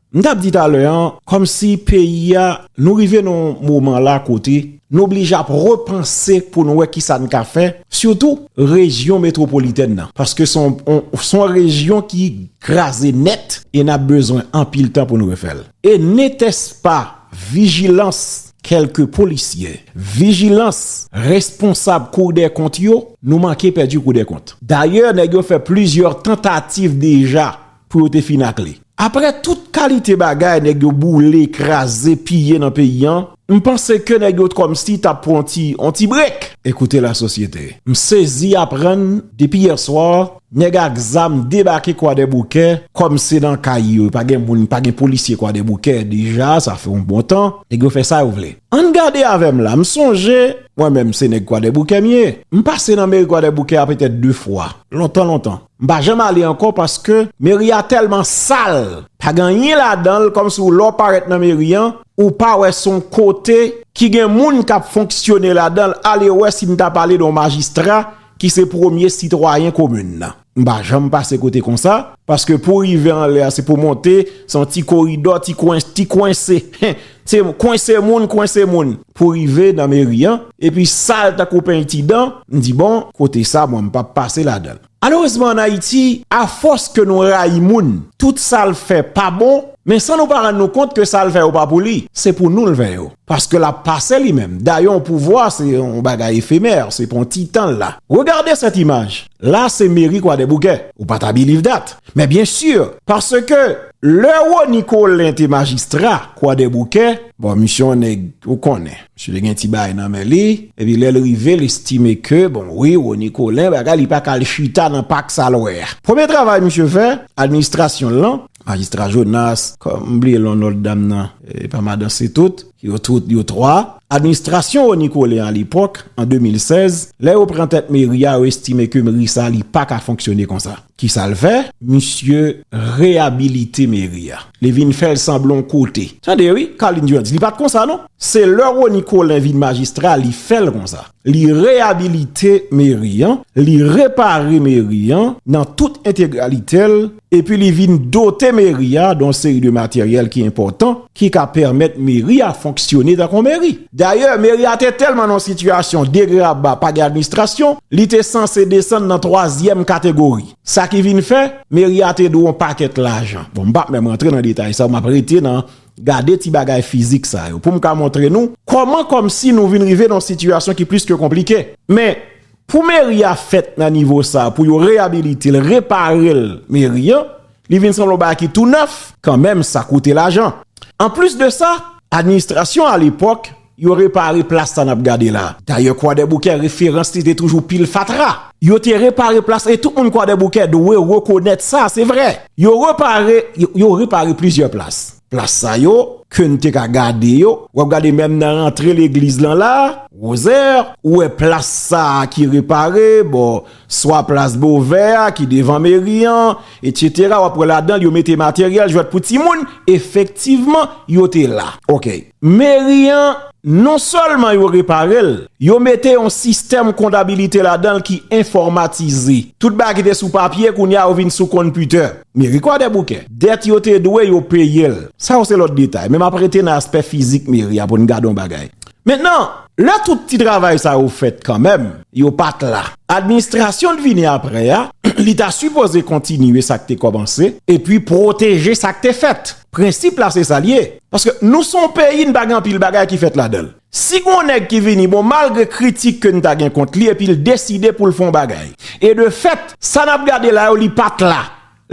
M tap di talè an kòmsi peyi a nou rive nan yon moman la kote nou blije ap repanse pou nou wè kisa n ka fè sitou rejyon metwopolitèn nan paske son yon rejyon ki kraze nèt e nap bezwen anpil tan pou nou refè l e netespa vijilans Kèlke polisyè, vijilans, responsab koudèkont yo, nou manke pèdi koudèkont. Dayè nèg yo fè plizyè tantativ deja pou yo te fin ak li. Aprè tout kalite bagay nèg yo boule, kraze, piye nan peyi an, m panse ke nèg yo t kòmsi ta pran yon ti brek. Ekoute lasosyete. M sezi aprann depi yèswa Nèg ak zam debake kwadèboukè kòm se nan kay yo pa gen moun pa gen polisye kwadèboukè deja sa fè yon bon tan nèg yo fè sa yo vle ann gade avè m la m sonje mwen menm se nèg kwadèboukè m ye m pase nan meri kwadèboukè a petèt 2 fwa lontan lontan m pa janm ale ankò paske meri a tèlman sal pa gen anyen ladan l kòm si w lè w parèt nan meri an ou pa wè se yon kote ki gen moun k ap fonksyone ladan l alewè si m ta pale de yon majistra ki se premye sitwayen komin nan. M pa janm pase kote konsa, paske pou rive anlè a se pou monte, se yon ti koridò, ti kwen, ti kwense, hen, se kwense moun, kwense moun pou rive nan meri an, epi sal tankou peynti dan, m di bon, kote sa mwen m pap pase ladan l. Malerezman an Ayiti, afòs ke nou rayi moun, tout sa l fè pa bon, men san nou pa rann nou kont ke sa l fè yo pa pou li, se pou nou l fè yo. Paske lap pase li menm. Dayè yon pouvwa se yon bagay efemer, se pou yon ti tan la. Regardez cette image, la se meri kwadèboukè, ou pa ta biliv dat, men byen sur, paske lè Rony Colin te majistra kwadèboukè, bon misye yon nèg ou konnen, misye te gen ti bagay nan men li, epi lèl rive l estime ke bon wi Rony Colin bagay li pa ka al chita nan pak sa lwè a. Premye travay misye fè, administrasyon l lan, Majistra Jonas, m bliye non lòt dam nan, e pa madan se tout, yo tout yo 3, administrasyon Rony Colin alepòk, an 2016, lè yo pran tèt meri a, yo estime ke meri sa li pa ka fonksyone konsa. Ki sa l fè? Misye reyabilite meri a. Li vin fè l sanble yon kote. Tande wi, Carline Durand di li pa t konsa non. Se lè Rony Colin vin majistra li fè l konsa. Li reyabilite meri an, li repare meri an nan tout entegralite l. epi li vin dote meri a don seri de materyèl ki enpòtan ki ka pèmèt meri a fonksyone tankou yon meri. Dayè, meri a te tèlman nan yon sitiyasyon degraba pa gen administrasyon, li te sanse desann nan twazyèm kategori. Sa ki vin fè, meri a te dwe yon pakèt lajan. Bon, m pa p menm rantre nan detay sa yo, m ap rete nan gade ti bagay fizik sa yo pou m ka montre nou kòman kòmsi nou vin rive nan yon sitiyasyon ki plis ke konplike. Men, Pou meri a fèt nan nivo sa pou yo reyabilite l, repare l meri an, li vin sanble yon bagay ki tou nèf, kanmenm sa koute lajan. Anplis de sa, administrasyon alepòk yo repare plas sa n ap gade la. Dayè Kwadèboukè referans li te toujou pil fatra. Yo te repare plas la e tout moun Kwadèboukè dwe rekonèt sa, se vre. Yo repare, yo repare plizyè plas. Plas sa yo ke'n te ka gade yo. Wap gade menm nan rantre legliz lan la, Rosaire, ou wè plas sa ki repare, bon, swa plas Bovè a ki devan meri an, etc. Wap wè ladan'l yo mete materyèl jwèt pou timoun, efektivman yo te la. Ok. Meri an, non sèlman yo repare'l, yo mete yon sistèm kondabilite ladan'l ki enfòmatize. Tout bagay ki te sou papye, kounya yo vin sou konpitè. Méricot-Desbouquet. Dèt yo te dwe, yo peye l. Sa yo se lòt detay. Men m ap rete nan aspè fizik meri a pou n gade yon bagay. Mentnan, lè tout ti travay sa yo fèt kanmenm, yo pa t la. Administrasyon t vini aprè a, li ta sipoze kontinye sa k te kòmanse, epi pwoteje sa k te fèt. Prensip la se sa l ye. Paske nou se yon peyi, n pa gen anpil bagay ki fèt ladan l. Si gon nèg ki vini bon malgre kritik ke n ta gen kont li epi l deside pou l fè yon bagay e de fèt sa n ap gade la yo li pa t la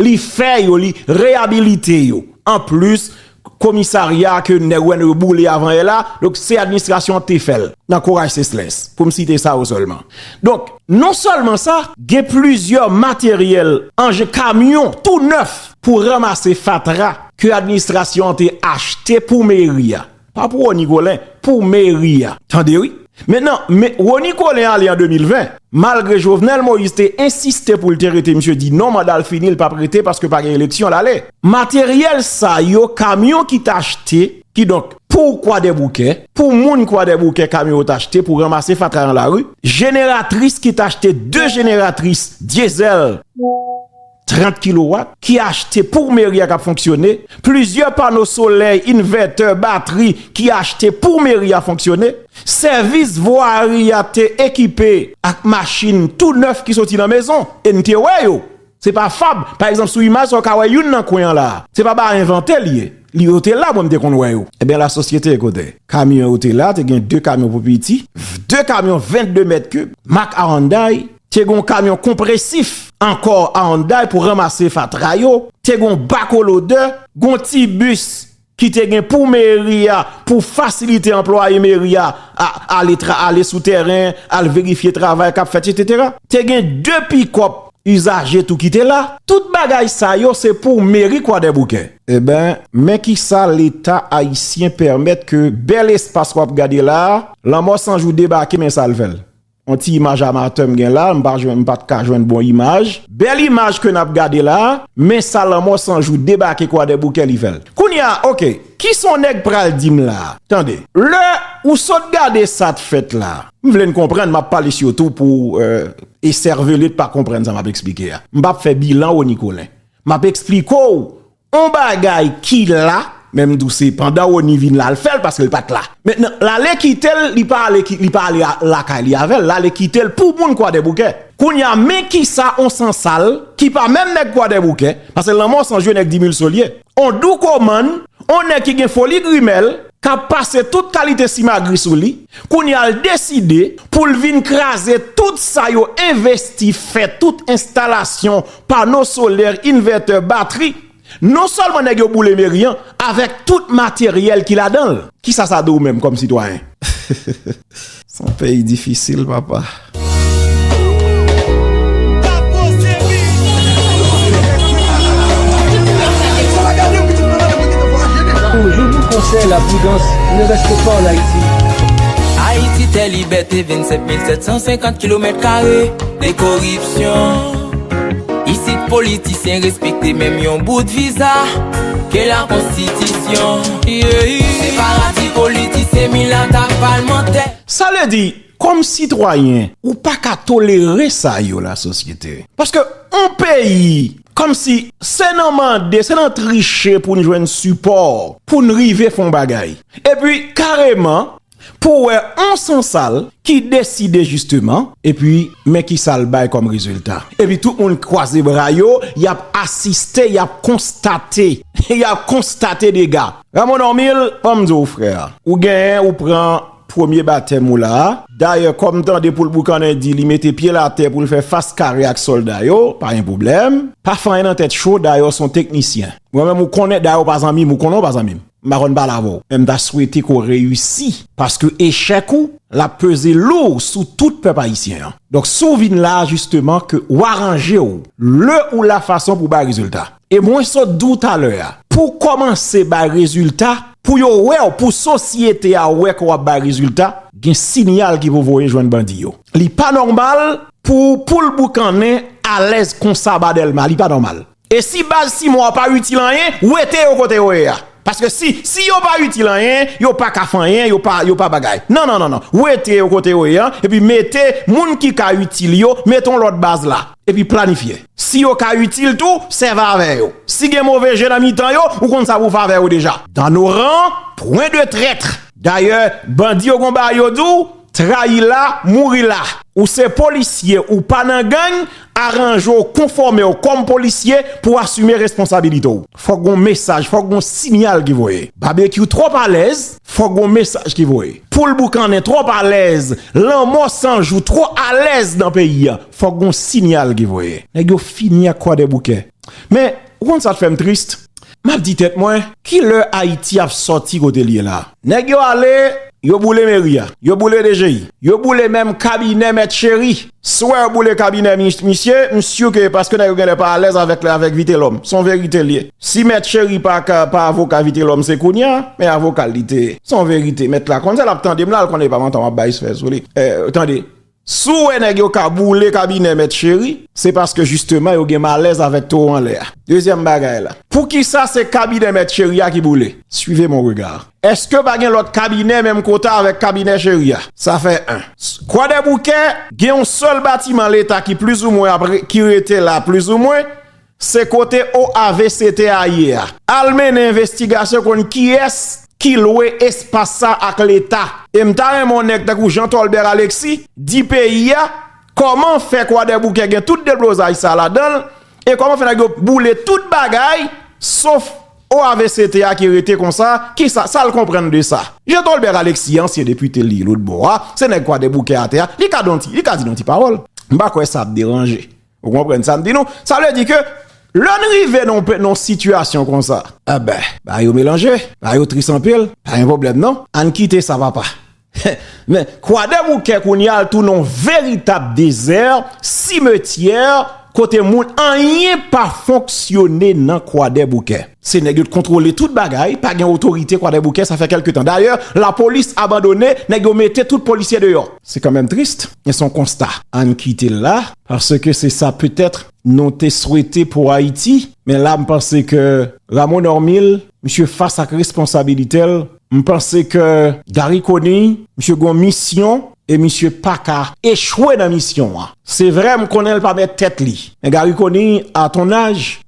li fè yo li reyabilite yo an plis komisarya a ke nèg wè nou yo boule avanyè la donk se administrasyon an k te fè l nan Courage Celslens pou m site sa yo sèlman donk non sèlman sa. Gen plizyè materyèl anjen kamyon tou nèf pou ranmase fatra ke administrasyon an te achte pou meri a. Pa pou Rony Colin, pou meri a. Tande wi. Men nan, men Rony Colin ale an 2020, malgre Jovenel Moïse te ensiste pou l te rete misye di non manda l fini l pap rete paske pa gen eleksyon l ale. Materyèl sa yo kamyon ki t achte, kidonk pou kwadèboukè, pou moun kwadèboukè kamyon yo t achte pou ranmase fatra nan lari, jeneratris ki t achte 2 jeneratris dyezèl. 30 kilowat, ki achte pou meri a k ap fonksyone, plizyè pano solèy, invètè, batri, ki achte pou meri a fonksyone, sèvis vwari a te ekipe ak machin tou nèf ki soti nan mezon, e n te wè yo, se pa fab, pa egzanp sou imaj sa ou ka wè youn nan kwen an la a, se pa bagay envante li ye, li yo te la mwen m te konn wè yo. Enben la sosyete kote kamyon yo te la te gen 2 kamyon pou piti, 2 kamyon 22 mèt kib mak Aranday, te gon kamyon konpresif ankò a Hyundai pou ranmase fatra yo, te gon bako lodè, gon ti bis ki te gen pou meri a pou fasilite anplwaye meri a ale sou tèren al verifye travay kap fèt etc. Te gen 2 pikòp izaje tou ki te la. Tout bagay sa yo se pou meri kwadèboukè. Eben men kisa leta ayisyen pèmèt ke bèl espas wap gade la, lanmò sanjou debake men sal fèl. On ti imaj amatè m gen la, m pa jwenn, m pat ka jwenn bon imaj. Bèl imaj ke nap gade la, men sa lanmò san jou debake kwadèboukè li fèl. Kounya ok, kisa on nèg pral dim la? Tande. Lè ou sot gade sat fèt la. M vle n konprann, map pale sitou pou eservele t pa konprann sa map esplike a. M pap fè bilan ou ni kolen. Map esplike w On bagay ki la, men m di w se pandan Rony vin la l fè l paske l pa t la. Mentnan, l ale kite l, li pa ale li pa ale lakay li avè l, l ale kite l pou moun Kwadèboukè. Kounye a, men kisa on Sansal ki pa menm nèg Kwadèboukè, paske lanmò san je nèg Dimilso l ye, on Doukomann, on nèg ki gen foli grimèl, k ap pase tout kalite simagri sou li, kounye a l deside pou l vin kraze tout sa yo envesti fè tout enstalasyon pano solè, invètè, batri, non sèlman nèg yo boule meri an avèk tout materyèl ki ladan l. Ki sa sa di w menm kòm sitwayen? S on peyi difisil papa. Koripsyon Isit politisyen respekte menm yon bout viza ke la konstitisyon Se paradi politisyen milat ak palmantè. Sa vle di, kòm sitwayen, ou pa ka tolere sa yo la sosyete. Paske yon peyi, kòm si se nan mande, se nan triche pou n jwenn sipò, pou n rive fè yon bagay. Epi kareman. Pou wè on sansal ki deside jisteman, epi men kisa l bay kòm rezilta. Epi tout moun kwaze bra yo, y ap asiste, y ap konstate, y ap konstate dega. Ramo Normil, ban m di w frè, ou genyen ou pran premye batèm ou la a. Dayè kò m tande poul boukannen di li mete pye l atè pou l fè fas kare ak sòlda yo, pa gen pwoblèm. Pa fanyen nan tèt cho, dayè w s on teknisyen. Mwen menm ou konnen, dayè w pa zanmi m, ou konnen w pa zanmi m. m pa konn pale avè w men m ta swete ke w reyisi paske echèk ou l ap peze lou sou tout pèp ayisyen an donk si w vin la a jisteman ke w aranje w le ou la fason pou w bay rezilta e mwen sot di w talè a pou w kòmanse bay rezilta pou yo wè w pou sosyete a wè ke w ap bay rezilta gen sinyal ki pou voye jwenn bandi yo li pa nòmal pou w poul boukannen alèz konsa ba Dèlma li pa nòmal. E si baz Simon an pa itil anyen, wete yo kote yo ye a. Paske si, si yo pa itil anyen, yo pa ka fè anyen, yo pa, yo pa bagay. Non, non, non, non. Wete yo kote yo ye a, epi mete moun ki ka itil yo, mete yon lòt baz la. Epi planifye. Si yo ka itil tou, sèvi avè yo. Si gen move je nan mitan yo, ou konn sa pou w fè avè yo deja. Dans nos rangs, point de traîtres! Dayè, bandi yo gon bagay yo di w? Trayi la, mouri la! Ou se polisye, ou pa nan gang, aranje w, konfòme w kòm polisye pou w asime responsabilite w. Fòk gon mesaj, fòk gon sinyal ki voye. Babekyou twòp alèz, fòk gon mesaj ki voye. Poul boukannen twòp alèz, lanmò san jou twò alèz nan peyi a, fòk gon sinyal ki voye. Nèg yo fini ak Kwadèboukè. Men, ou konn sa k fè m trist? M ap di tèt mwen, ki lè Ayiti ap sòti kote l ye la a? Nèg yo ale, yo boule meri a, yo boule DGI, yo boule menm kabinè Mèt Cheri. Si w wè yo boule kabinè misye, m si w ke e paske nèg yo genlè pa alèz avèk Vitelòm. Se yon verite l ye. Si Mèt Cheri pa avoka Vitelòm se kounye a, men avoka l li te ye. Se yon verite. Mèt la konn sa l ap tande m la, l konnen e pa manti m ap bay sfè sou li. Tande! Si w wè nèg yo ka boule kabinè Mèt Cheri, se paske jisteman yo gen malèz avèk towo anlè a. Dezyèm bagay la, poukisa se kabinè Mèt Cheri a ki boule? Suivez mon regard. Èske pa gen lòt kabinè menm kota avèk kabinè Cheri a? Sa fè 1. Kwadèboukè gen yon sèl batiman Leta ki plizoumwen ap ki rete la plizoumwen. Se kote OAVCT a ye a. Al mennen envestigasyon konn kiyès ki lwe espas sa ak leta. E m ta renmen yon nèg tankou Jean Tholbert Alexis di peyi a kòman fè kwadèboukè gen tout deblozay sa ladan l e kòman fè nèg yo boule tout bagay sof OAVCT a ki rete konsa ki sa sa l konprann de sa. Jean Tholbert Alexis ansyen depite li lotbò a se nèg kwadèboukè atè a li ka di yon ti pawòl. M pa kwè sa ap deranje. Ou konprann sa m di nou? Sa vle di ke lè n rive nan yon sitiyasyon konsa, enben bagay yo melanje, bagay yo tris anpil, pa gen pwoblèm non, an n kite sa papa. Men, Kwadèboukè kounye a tounen yon veritab dezè, simetyè, kote moun anyen pa fonksyone nan Kwadèboukè. Se nèg yo t kontwole tout bagay, pa gen otorite Kwadèboukè sa fè kèlke tan. Dayè, lapolis abandone, nèg yo mete tout polisye deyò. Se kanmenm trist, men se yon konsta. An n kite l la. Paske se sa petèt nou te swete pou Ayiti. Men la m panse ke Rameau Normil, misye fas ak responsabilite l. M panse ke Garry Conille, misye gen yon misyon e misye pa ka echwe nan misyon an. Se vre m konnen l pa mèt tèt li. Men Garry Conille, a ton aj,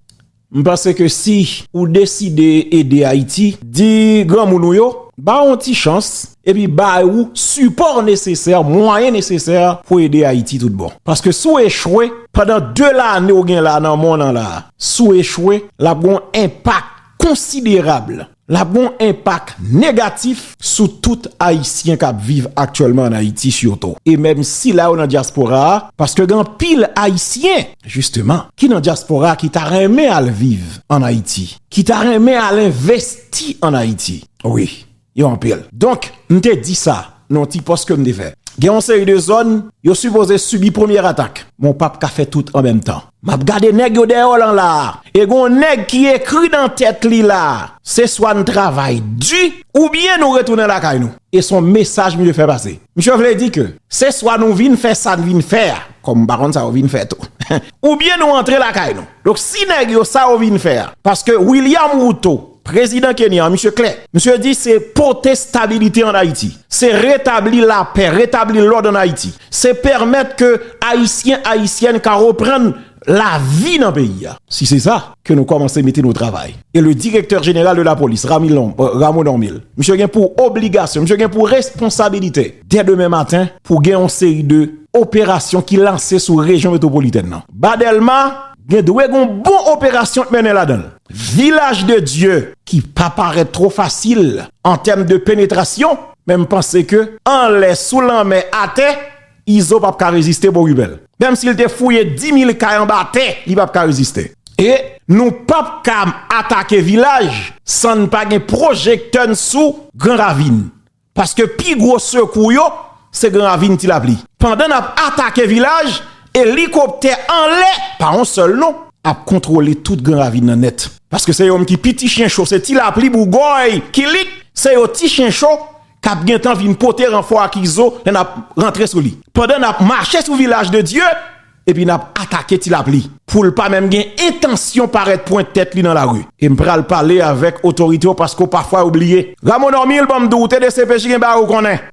M panse ke si ou deside ede Ayiti, di granmoun ou yo ba ou yon ti chans epi ba ou sipò nesesè, mwayen nesesè pou w ede Ayiti tout bon. Paske si w echwe pandan 2 lane ou gen la nan mòn an la, si w echwe, l ap gen yon enpak konsiderable. L ap gen yon enpak negatif sou tout Ayisyen k ap viv aktyèlman ann Ayiti sitou, e menm sila yo nan dyaspora a, paske gen anpil Ayisyen, jisteman, ki nan dyaspora a ki ta renmen al viv ann Ayiti, ki ta renmen al envesti ann Ayiti. Wi, yo anpil. Donk, m te di sa. nan ti pòs kem te fè gen yon seri de zòn yo sipoze sibi premye atak men w pap ka fè tout an menm tan map gade nèg yo dèyè w lan la e gen yon nèg ki ekri nan tèt li la se swa n travay di oubyen nou retounen lakay nou e son mesaj misye fè pase misye vle di ke se swa nou vin fè sa n vin fè a kòm m pa konn sa yo vin fè tou oubyen nou antre lakay nou donk si nèg yo sa yo vin fè a paske William Ruto. Prezidan Kenyan an, misye klè. Misye di se pote stabilite an Ayiti. Se retabli lapè, retabli lòd an Ayiti. Se pèmèt ke Ayisyen, Ayisyèn ka reprann lavi nan peyi a. Si se sa, ke nou kòmanse mete nou travay. E le direktè jeneral de lapolis, Rameau Normil, misye gen pou obligasyon, misye gen pou responsabilite, dè demen maten, pou gen yon seri de operasyon ki lanse sou rejyon metwopolitèn nan. Ba Dèlma. Gen dwe gon bon operasyon k mennen ladan l. Vilaj de Dye ki pa parèt two fasil an tèm de penetrasyon men m panse ke anlè, sou lanmè, atè, Izo p ap ka reziste bon ribèl. Menm si l te fouye dimil kay anba tè li p ap ka reziste. E nou p ap ka atake Vilaj san n pa gen pwojektè n sou Gran Ravin. Paske pi gwo sekou yo se gen ravin ti lapli. Pandan nap atake vilaj, elikoptè anlè, pa yon sèl non, ap kontwole tout gran ravin nan nèt. Paske se yom ki pi ti chen cho se ti lapli, bougòy, kilik, se yo ti chen cho kap gentan vin pote ranfò ak izo lè nap rantre sou li. Pandan nap mache sou vilaj de Dye. Epi n ap atake ti lapli. Pou l pa menm gen entansyon parèt pwente tèt li nan lari. E m pral pale avèk otorite yo paske w pafwa yo bliye. Rameau Normil ban m di w, ou te dcpj gen bagay ou konnen.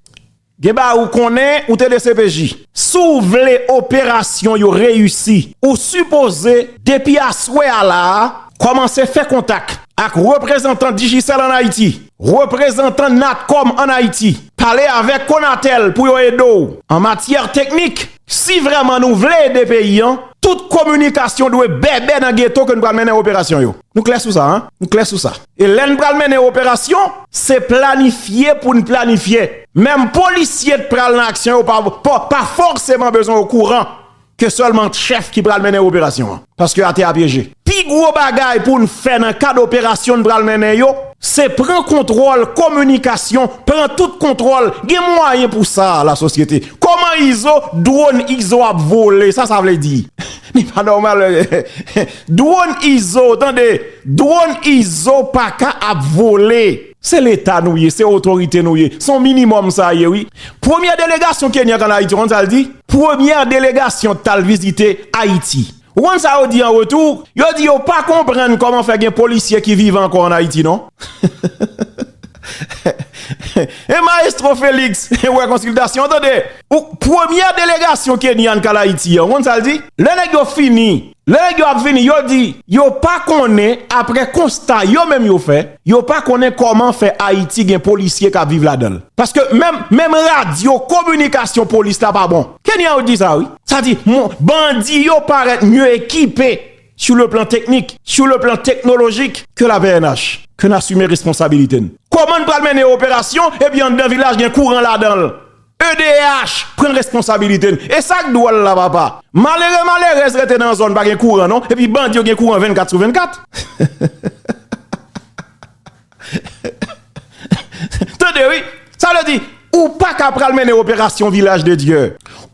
Gen bagay ou konnen, ou te dcpj. Si w vle operasyon yo reyisi, ou sipoze depi aswè a la a, kòmanse fè kontak ak reprezantan Digicel an Ayiti, reprezantan Natcom an Ayiti, pale avèk Conatel pou yo ede w an matyè teknik. Si vrèman nou vle ede peyi an, tout kominikasyon dwe bèbè nan geto ke n pral mennen operasyon yo. Nou klè sou sa, an? Nou klè sou sa. E lè n pral mennen operasyon, se planifye pou n planifye. Menm polisye k pral nan aksyon yo pa fòseman bezwen okouran ke sèlman chèf ki pral mennen operasyon an. Paske atè a pyeje. Pi gwo bagay pou n fè nan kad operasyon n pral mennen yo, se pran kontwòl kominikasyon, pran tout kontwòl, gen mwayen pou sa la sosyete. Kòman izo, dwòn izo ap vole, sa sa vle di? Li pa nòmal, dwòn izo, tande, dwòn izo paka ap vole. Se leta nou ye, se otorite nou ye. Se yon minimòm sa ye wi. Premyè delegasyon Kenyan k an Ayiti, ou konn sa l di? Premyè delegasyon t al vizite Ayiti. Ou konn sa yo di an retou? Yo di yo pa konprann kòman fè gen polisye ki vivan ankò an Ayiti non. E maestro Felix, ou wè konsiltasyon an tande. Premyè delegasyon Kenyan k al Ayiti an, ou konn sa l di? Lè nèg yo fini. Lè nèg yo ap vini, yo di, yo pa konnen, aprè konsta yo menm yo fè, yo pa konnen kòman fè Ayiti gen polisye k ap viv ladan l. Paske menm, menm radyo kominikasyon polis la pa bon. Kenyan yo di sa wi. Sa di, moun, bandi yo parèt mye ekipe sou le plan teknik, sou le plan teknolojik ke la pnh. Ke n asime responsabilite n. Kòman n pral mennen operasyon epi anndan vilaj gen kouran ladan l? Edh pran responsabilite n. E sak dwòl la papa. Malere malerèz rete nan zòn pa gen kouran non epi bandi yo gen kouran 24 sou 24. Tande wi. Sa vle di ou paka pral mennen operasyon vilaj de Dye.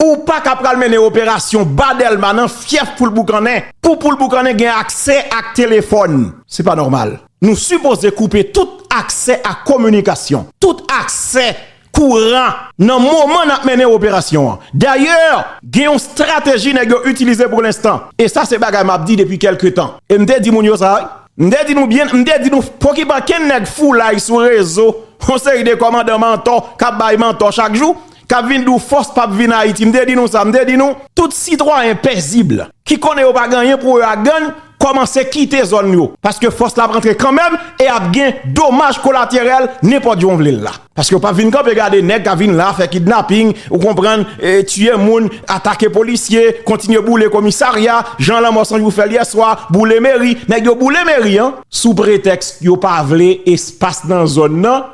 Ou paka pral mennen operasyon ba Dèlma nan fyèf poul boukannen. Pou poul boukannen gen aksè ak telefòn. Se pa nòmal. Nou sipoze koupe tout aksè ak kominikasyon. Tout aksè kouran nan moman nap mennen operasyon an. Dayè, gen yon strateji nèg yo itilize pou lenstan, e sa se bagay map di depi kèlke tan, e m te di moun yo sa wi, m te di nou byen, m te di nou pokipanken nèg foulay sou rezo, yon seri de kòmandan mantò kap bay mantò chak jou, kap vin di w fòs pap vin Ayiti, m te di nou sa, m te di nou. Tout sitwayen pèzib ki konnen yo pa gen anyen pou yo ak gann, kòmanse kite zòn yo, paske fòs la ap rantre kanmenm e ap gen domaj kolaterèl nenpòt jan w vle l la. Paske yo pap vin kanpe gade nèg ka vin la fè kidnaping, ou konprann, tiye moun, atake polisye, kontinye boule komisarya, jan lanmò san jou fèl yè swa, boule meri, nèg yo boule meri an, sou pretèks yo pa vle espas nan zòn nan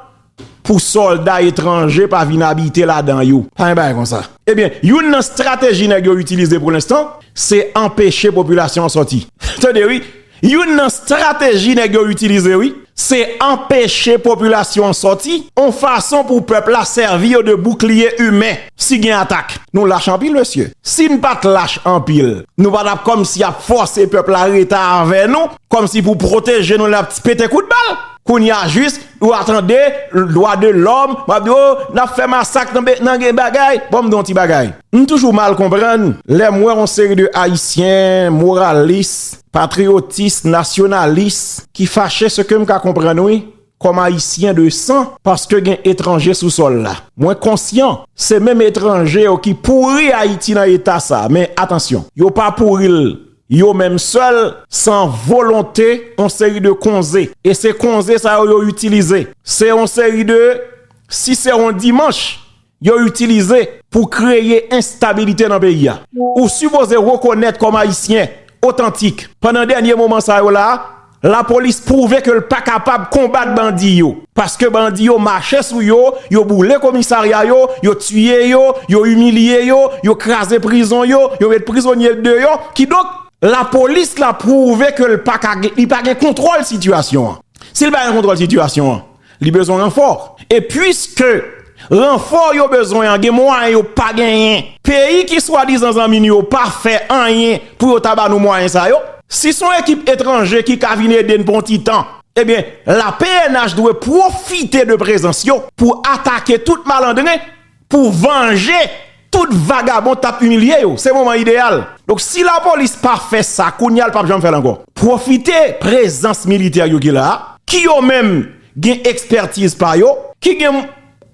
pou sòlda etranje pa vin abite ladan yo. Pa gen bagay konsa. Ebyen, youn nan strateji nèg yo itilize pou lenstan, se anpeche popilasyon an sòti. Tande wi, Youn nan strateji nèg yo itilize wi, se anpeche popilasyon an sòti, on fason pou pèp la sèvi yo de boukliye imen si gen atak. Nou lach anpil mesye. Si n pa t lach anpil, nou pa t ap kòmsi ap fòse pèp la rete avè nou, kòmsi pou pwoteje nou lè y ap pete kout bal. Kounye a jis, ou a tande, dwa de lòm, m ap di, o, n ap fè masak nan gen bagay, ban m di yon ti bagay. M toujou mal konprann lè m wè yon seri de Ayisyen moralis, patriyotis, nasyonalis ki fache se ke m ka konprann wi kòm Ayisyen de san paske gen etranje sou sòl la. Mwen konsyan se menm etranje yo ki pouri Ayiti nan eta sa men atansyon yo pa pouri l yo menm sèl san volonte yon seri de konze e se konze sa yo yo itilize se yon seri de si se yon dimanch yo itilize pou kreye enstabilite nan peyi a. Ou sipoze rekonèt kòm Ayisyen otantik, pandan dènye moman sa yo la, lapolis pwouve ke l pa kapab konbat bandi yo, paske bandi yo mache sou yo, yo boule komisarya yo, yo tiye yo, yo imilye yo, yo kraze prizon yo, yo met prizonye deyò, kidonk, lapolis la pwouve ke l pa ka, li pa gen kontwòl sitiyasyon an. Si l pa gen kontwòl sitiyasyon an, Li bezwen ranfò. E puiske ranfò yo bezwen an gen mwayen yo pa genyen. Peyi ki swadizan zanmi nou yo pa fè anyen pou yo ta ba nou mwayen sa yo. Si son ekip etranje ki ka vin ede n pou yon ti tan, ebyen la pnh dwe pwofite de prezans yo pou atake tout malandren Pou vanje tout vagabon tap imilye yo. Se moman ideyal. Donk si la polis pa fè sa kounya l pap janm fè l ankò. Pwofite prezans militè yo ki la a, ki yo menm gen ekspètiz pa yo, ki gen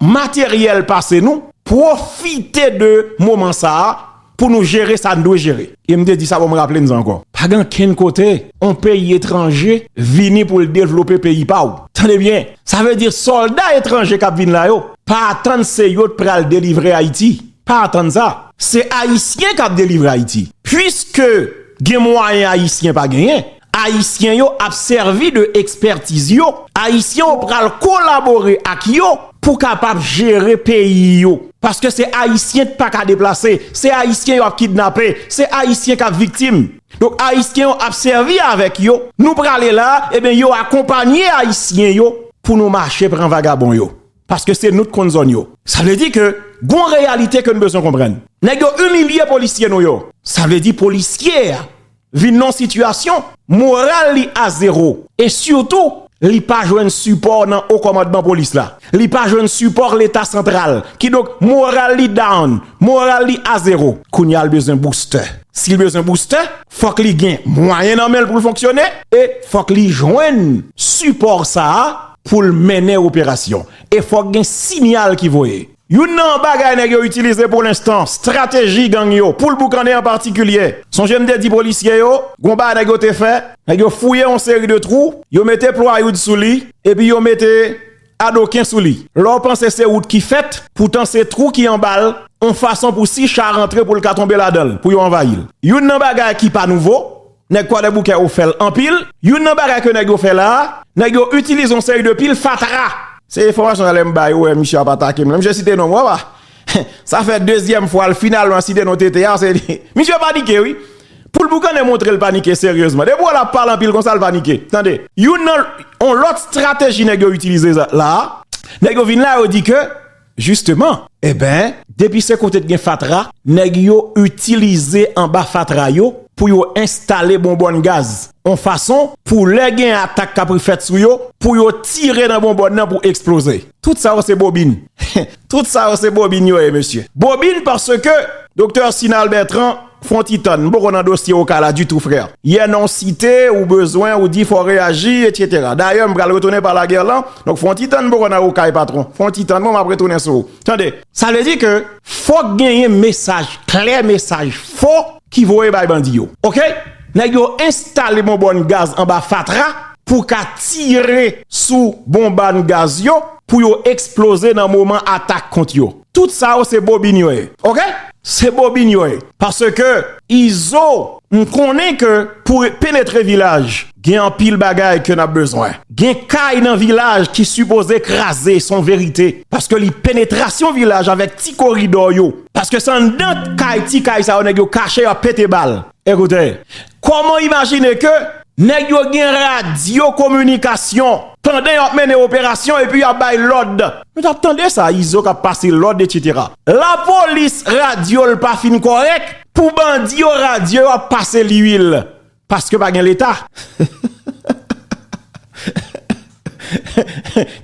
materyèl pase nou, pwofite de moman sa a Pou nou jere sa n dwe jere. E m te di sa bon m raple n sa ankò. Pa gen ankenn kote yon peyi etranje vini pou l devlope peyi pa w. Tande byen, sa vle di sòlda etranje k ap vin la yo, pa atann se yo t pral delivre Ayiti. Pa atann sa. Se Ayisyen k ap delivre Ayiti. Puiske gen mwayen Ayisyen pa genyen, Ayisyen yo ap sèvi de ekspètiz yo, Ayisyen yo pral kolabore ak yo pou kapab jere peyi yo. Paske se Ayisyen k paka deplase, se Ayisyen yo ap kidnape, se Ayisyen k ap viktim. Donk Ayisyen yo ap sèvi avèk yo, nou prale la, eben yo akonpanye Ayisyen yo pou nou mache pran vagabon yo. Paske se nou k konn zòn yo. Sa vle di ke gon reyalite ke n bezwen konprann. Nèg yo imilye polisye nou yo. Sa vle di polisye a vin nan yon sitiyasyon moral li a zewo e sitou li pa jwenn sipò nan wo kòmandman polis la, li pa jwenn sipò leta santral, kidonk moral li down, moral li a zewo. Kounye a li bezwen boustè. Si li bezwen boustè, fòk li gen mwayen nan men l pou l fonksyone e fòk li jwenn sipò sa a pou l mennen operasyon e fòk gen siyal ki voye. Youn nan bagay nèg yo itilize pou lenstan, strateji gang yo pou l boukane an patikilye. Sonje m te di polisye yo, gon bagay nèg yo te fè, nèg yo fouye yon seri de twou, yo mete plwayoud sou li, epi yo mete adoken sou li. Lè w panse se wout ki fèt, poutan se twou ki anba l, yon fason pou si cha rantre pou l ka tonbe ladan l, pou yo anvayi l. Youn nan bagay ki pa nouvo, Nèg kwadèboukè yo fèl anpil. Youn nan bagay ke nèg yo fè la a, nèg yo itilize yon seri de pil fatra. Se enfòmasyon sa lè m bay ou wè misye ap atake m. Lè misye site non mwen wap a. Sa fè dezyèm fwa l finalman site non TT a. Misye panike wi. Pou l boukannen montre l panike seryezman. Depi w wè l ap pale anpil konsa l panike. Tande. Youn nan yon lòt strateji nèg yo itilize la a. Nèg yo vin la yo di ke. Justement! Eben, depi se kote t gen fatra, nèg yo itilize anba fatra yo pou yo enstale bonbòn gaz, on fason pou lè gen atak k apri fèt sou yo, pou yo tire nan bonbòn nan pou eksploze. Tout sa yo se bobin. Tout sa yo se bobin yo ye mesye. Bobin paske Doktè Sinal Bertrand Fon ti tan, m poko nan dosye Oka la ditou frè. Yè non w site, ou bezwen, ou di fò w reyaji, etc. Dayè m pral retounen pa Laguerland, donk fon ti tan m poko nan Okay patron. Fon ti tan bon m ap retounen sou ou. Tande! Sa vle di ke fòk genyen mesaj klè, mesaj fò ki voye bay bandi yo. Ok! Nèg yo enstale bonbòn gaz anba fatra pou ka tire sou bonbann gaz yo pou yo eksploze nan moman atak kont yo. Tout sa yo se bobin yo ye. Ok se bobin yo ye paske. Izo m konnen ke pou penetre vilaj gen anpil bagay ke nap bezwen gen kay nan vilaj ki sipoze kraze son verite paske li penetrasyon vilaj avèk ti koridò yo paske se anndan kay ti kay sa yo nèg yo kache yo ap pete bal ekoute Koman w imajine ke nèg yo gen radyo kominikasyon pandan yo ap mennen operasyon epi yo ap bay lòd? Nou t ap tande sa, Izo k ap pase lòd etsetera. Lapolis radyo l pa fin kòrèk, pou bandi yo radyo yo ap pase liyil, paske pa gen leta.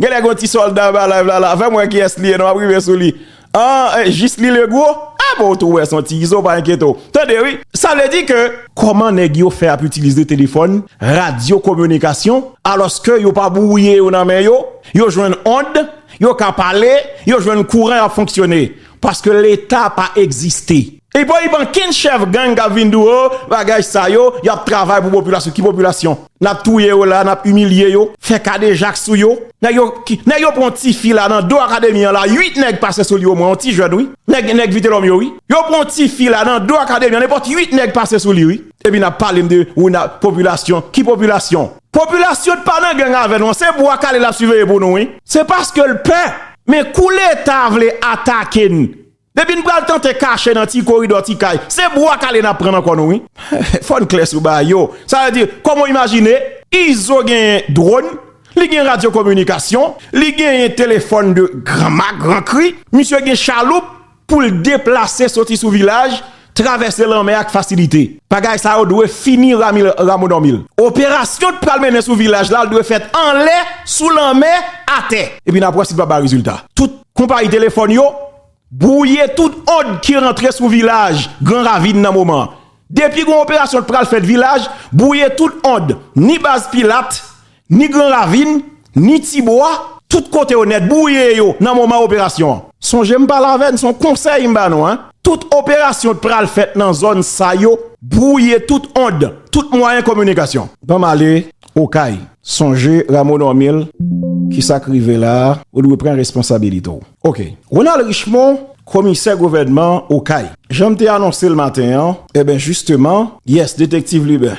Genlè gon ti solda anba live la la fèm wè kiyès li ye non map rive sou li Ahh Jisly Legros ah bon ou tou wè son ti izo pa enkyete w tande wi sa vle di ke kòman nèg yo fè ap itilize telefòn radyo kominikasyon alòske yo pa bwouye yo nan men yo yo jwenn ond yo ka pale yo jwenn kouran yap fonksyone Paske leta pa egziste. Epa okenn chèf gang kap vin di w oh bagay sa yo yap travay pou popilasyon, ki popilasyon? Nap touye yo la, nap imilye yo, fè kadejak sou yo. Nèg yo, nèg yo pran yon tifi la nan do akademi an la, 8 nèg pase sou li omwen, yon ti jèn wi. Nèg, nèg vitelòm yo wi. Yo pran yon tifi la nan do akademi an nenpòt 8 nèg pase sou li wi. Epi nap pale m de ou nan popilasyon, ki popilasyon? Popilasyon t pa nan gang avè nou an se bwa kale lap siveye pou nou wi. Se paske l pè, men kou leta vle atake n, depi n pral tante kache nan ti koridò ti kay, se bwa kale nap pran nan kò nou wi. Fò n klè sou bagay yo, sa vle di, kòm ou imajine, Izo genyen drone, li gen radyo kominikasyon, li genyen telefòn de gran mak, gran kri, misye gen chaloup, pou l deplase soti sou vilaj, travèse lanmè ak fasilite. Bagay sa yo dwe fini ramodomil. Operasyon t pral mennen sou vilaj la dwe fèt anlè, sou lanmè, atè. Epi n ap wè si l p ap bay rezilta. Tout konpayi telefòn yo bwouye tout ond ki rantre sou vilaj gran ravin nan moman an. Depi gen yon operasyon t pral fèt vilaj, bwouye tout ond, ni baz pilat, Ni gran ravin, ni ti bwa, tout kote yo nèt bwouye yo nan moman operasyon an. Sonje m pale avè n, se yon konsèy m ba nou an, tout operasyon t pral fèt nan zòn sa yo, bwouye tout ond, tout mwayen kominikasyon. Banm ale Okay, sonje Rameau Normil, kisa k rive la a, ou dwe pran responsabilite w. Ok. Ronald Richemond, komisè gouvènman Okay. Jan m te anonse l maten an, eben jisteman, yes, detektiv Lubin.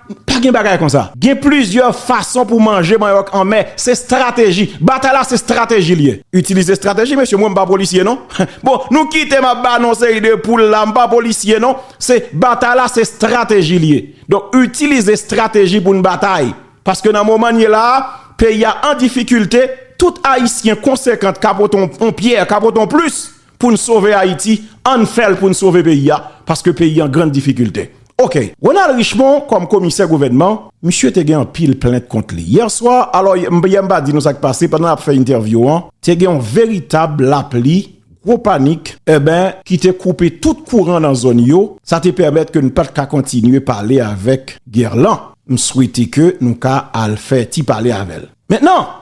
Pa gen bagay konsa. Gen plizyè fason pou manje manyòk anmè. Se strateji. Batay la se strateji li ye. Itilize strateji mesye. Mwen m pa polisye non. Bon, nou kite m ap ba nou yon seri de poul la. M pa polisye non. Se batay la se strateji li ye. Donk itilize strateji pou n batay. Paske nan moman n ye la a, peyi a an difikilte. Tout Ayisyen konsekant ka pote yon pyè, ka pote yon plis. Poun sove Ayiti ann fèl poun sove peyi a paske peyi an grand difikilte ok. Ronald Richemond kòm komisè gouvènman. Misye te gen anpil plent kont li. Yèswa, alò yè m pa di nou sa k pase, pandan n ap fè entèvyou an, te gen yon veritab lapli, gwo panik, enben, ki te koupe tout kouran nan zòn yo, sa te pèmèt ke n pa t ka kontinye pale avèk Guerlan. M swete ke nou ka al fè ti pale avè l. Mentnan!